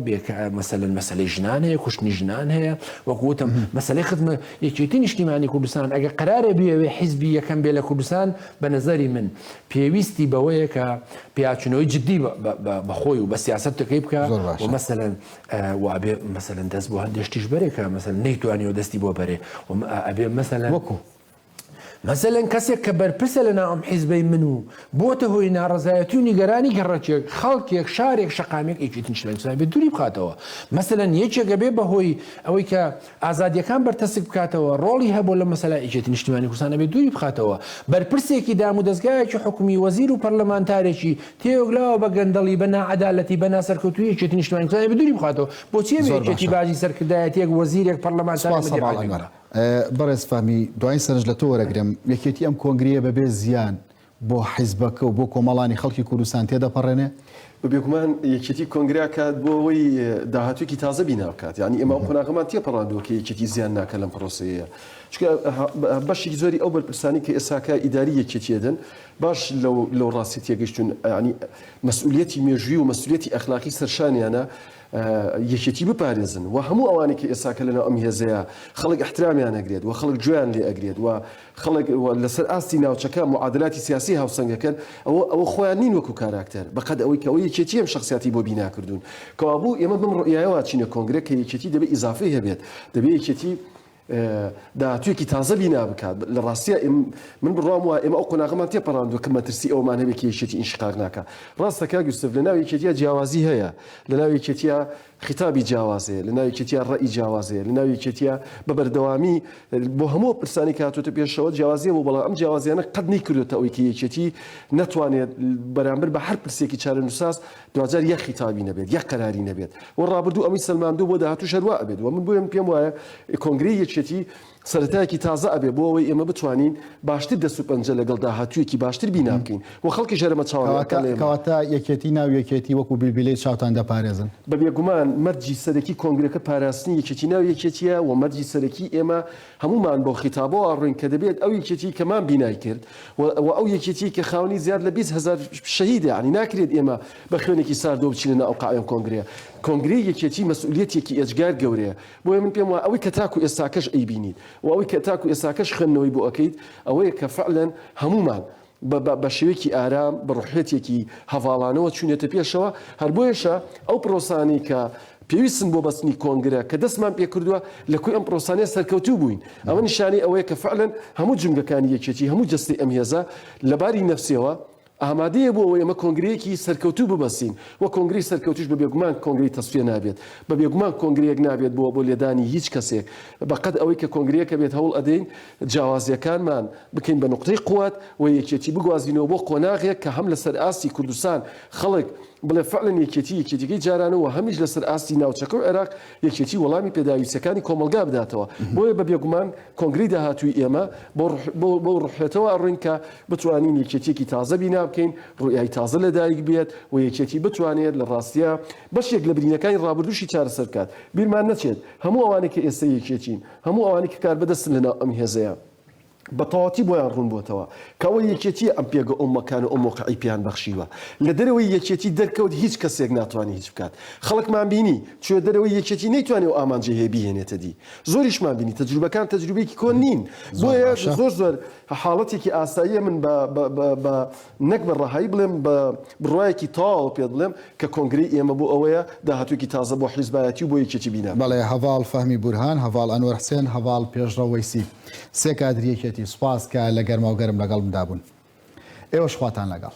مەسەن مەسلەی ژنان هەیە کوشتنی ژنان هەیە وەکوتم مەسلەی خزمە یەکێتی نیشتیمانی کوردستان ئەگە قرارە بێوێ حیزبی یەکەم بێ لە کوردستان بە نظری من پێویستی بەوەیە کە پیاچنەوەی جددی بەخۆی و بە سیاستەکەی بکە مەسەن وابێ مەسەلەن دەست بۆ هەندێ شتیش بەرێ کە مەسەل نەیتوانیەوە دەستی بۆ بەرێ وم ئەبێ مەسەلەن وەکو مەسەلەن کەسێک کە بەرپرسە لە ناوم حیزبەی من و بۆتە هۆی ناڕزایەتی و نیگەرانی گەڕەکێک خەڵکێک شارێک شقامێک ئیکیتن شلەنسای بێ دووری بخاتەوە مەسەلەن یەکێکە بێ بەهۆی ئەوەی کە ئازادیەکان بەرتەسک بکاتەوە ڕۆڵی هەبوو لە مەسەلا ئیکێتی نیشتمانی کوردستانە بێ دووری بخاتەوە بەرپرسێکی دام و دەستگایەکی حکومی وەزیر و پەرلەمانتارێکی تێوەگلاوە بە گەندەڵی، بە ناعەدالەتی، بە ناسەرکەوتوویی یەکێتی نیشتمانی کوردستانی دووری بخاتەوە. بۆچی ئەبێ یەکێتی باجی سەرکردایەتییەک، وەزیرێک، پەڕلەمانتارێک، سوپاس هەڤاڵ مەدیرعاملێک ئەنوەر. بەڕێز
فەهمی دوایین سەرنج لە تۆ وەرەگرم، یەکێتی ئەم کۆنگرەیە بە بێ زیان بۆ حیزبەکە و بۆ کۆمەڵانی خەڵکی کوردستان تێدەپەڕێنێ؟ بە بێگومان
یەکێتی کۆنگرە ئەکات بۆ ئەوەی داهاتوویەکی تازە بینا بکات. یانی ئێمە ئەو قۆناغەمان تێپەڕاندووە کە یەکێتی زیان ناکات لەم پڕۆسەیە. چونکە بەشێکی زۆری ئەو بەرپرسانەی کە ئێستاکە ئیداری یەکێتییە دەن، باش لەو لەو ڕاستیە تێگەشتون یانی مەسئولیەتی مێژوی و مەسئولیەتی ئەخلاقی سەرشانیانە یەکێتی بپارێزن و هەموو ئەوانەی کە ئێساکە لەناو ئەم هێزەیە خەڵک احترامیان ئەگرێت و خەڵک گوێیان لێ ئەگرێت و خەڵک لەسەر ئاستی ناوچەکە معادلاتی سیاسی هاوسەنگەکەن ئەوە ئەوە خۆیان نین وەکو کاراکتەر بەقەد ئەوەی کەەوە یەکێتی ئەم شخصیاتی بۆ بیناکردون کەوابوو ئێمە بم ڕۆیایەوە چینە کۆنگرە کە یەکێتی دەبێت ئیزافی هەبێت دەبێت یەکێتی داهاتوویەکی تازە بینا بکات، لە ڕاستیا من بڕوام وایە ئێمە ئەو قۆناغەمان تێپەڕاندووە کە مەترسی ئەوەمان هەبێت کە یەکێتی ئینشقاق ناکا. ڕاستە کاک یوسف لە ناو یەکێتیا جیاوازی هەیە، لە ناو یەکێتیا خیتابی جیاواز هەیە، لە ناو یەکێتیا ڕەئی جیاواز هەیە، لە ناو یەکێتیا بە بەردەوامی بۆ هەموو ئەو پرسانەی کە هاتووەتە پێشەوە جیاوازی هەبوو، بەڵام ئەم جیاوازییانە قەت نەیکردووەتە ئەوەی کە یەکێتی نەتوانێت بەرامبەر بە هەر پرسێکی چارەنووسساز دواجار یەک خیتابی نەبێت یەک قەراری نەبێت و ڕابردوو ئەمەی سەلماندووە بۆ داهاتووش هەروا ئەبێت و من بۆیە پێم وایە کۆنگرەی یەکێتی سەرەتایەکی تازە ئەبێت بۆ ئەوەی ئێمە بتوانین باشتر دەست و پەنجە لەگەڵ داهاتوویەکی باشتر بینا بکەین و خەڵکیش هەرە بە چاوان کەواتە ئەڵێم کەواتە
یەکێتی ناو یەکێتی وەکوو بیلبیلەی چاوتان دەپارێزن. بە بێگومان
مەرجی سەرەکی کۆنگرەکە پاراستنی یەکێتی ناو یەکێتییە و مەرجی سەرەکی ئێمە هەموومان بەو خیتابەوە ئەڕۆین کە دەبێت ئەو یەکێتیی کە مان بینای کرد و ئەو یەکێتیی کە خاوەنی زیاد لە بیست هەزار شەهیدە، یانی ناکرێت ئێمە بە خوێنێکی ساردەوە بچینە ناو قاعەی ئەم کۆنگرەیە. کۆنگرەی یەکێتیی مەسئولییەتێکی ئێجگار گەورەیە. بۆیە من پێم وایە ئەوەی کە تاکوو ئێستاکەش ئەیبینیت و ئەوەی کە تاکوو ئێستاکەش خوێندنەوەی بۆ ئەکەیت، ئەوەیە کە فەعلەن هەموومان بە بە بە شێوەیەکی ئارام، بە ڕوحیەتێکی هەڤاڵانەوە چوونەتە پێشەوە، هەر بۆیەشە ئەو پرۆسانەی کە پێویستن بۆ بەستنی کۆنگرە کە دەستمان پێ کردووە، لە کۆی ئەم پرۆسانەیە سەرکەوتوو بووین. ئەمە نیشانەی ئەوەیە کە فەعلەن هەموو جومگەکانی یەکێتی، هەموو جەستەی ئەم هێزە لە باری نەفسیەوە ئامادەیە بۆ ئەوەی ئەمە کۆنگرەیەکی سەرکەوتوو ببەستین و کۆنگرەی سەرکەوتووش بە بێگومان کۆنگرەی تەسفیە نابێت، بە بێگومان کۆنگرەیەک نابێت بۆ بۆ لێدانی هیچ کەسێک، بە قەد ئەوەی کە کۆنگرەیەکە بێت هەوڵ ئەدەین جیاوازییەکانمان بکەین بە نوقتەی قوت و یەکێتی بگوازینەوە بۆ قۆناغێک کە هەم لەسەر ئاستی کوردستان خەڵک بڵێ فعلەن یەکێتی یەکێتیەکەی جارانە و هەمیش لەسەر ئاستی ناوچەکە و عێراق یەکێتی وەڵامی پێداویستیەکانی کۆمەڵگا بداتەوە بۆیە بە بێگومان کۆنگرەی داهاتووی ئێمە بەو روحیەتەوە ئەڕۆین کە بتوانین یەکێتیەکی تازە بینا بکەین روئیای تازە لە دایک بێت و یەکێتی بتوانێت لە راستیا بەشێک لە برینەکانی رابردووشی چارەسەر بکات بیرمان نەچێت هەموو ئەوانەی کە ئێستا یەکێتین هەموو ئەوانەی کە کاربەدەستن لە ناو ئەم هێزەیا بە تەواوەتی بۆیان ڕوون بۆتەوە کە ئەوە یەکێتیە ئەم پێگە ئەو مەکان و ئەو مەوقعی پێیان بەخشیوە لە دەرەوەی یەکێتی دەرکەوت هیچ کەسێک ناتوانی هیچ بکات خەڵکمان بینی چوە دەرەوەی یەکێتی نەیتوانی ئەو ئامانجەی هەیە بیهێنێتە دی زۆریشمان بینی تەجروبەکان تەجروبەیەکی کۆن نین زۆر باشە. بۆیە زۆر زۆر حاڵەتێکی ئاساییە من بە بە بە بە نەک بە ڕەهایی بڵێم بە بڕوایەکی تەواوەوە پێت بڵێم کە کۆنگرەی ئێمە بۆ ئەوەیە داهاتووێکی تازە بۆ حیزبایەتی و بۆ یەکێتی بینە. بەڵێ، هەڤاڵ فەهمی
بورهان، هەڤاڵ ئەنوەر حسێن، هەڤاڵ پێشڕەو وەیسی. سێ کادری یەکێتی. سوپاس کە لە گەرماوگەرم لەگەڵمدا بوون. ئێوەش خواتان لەگەڵ.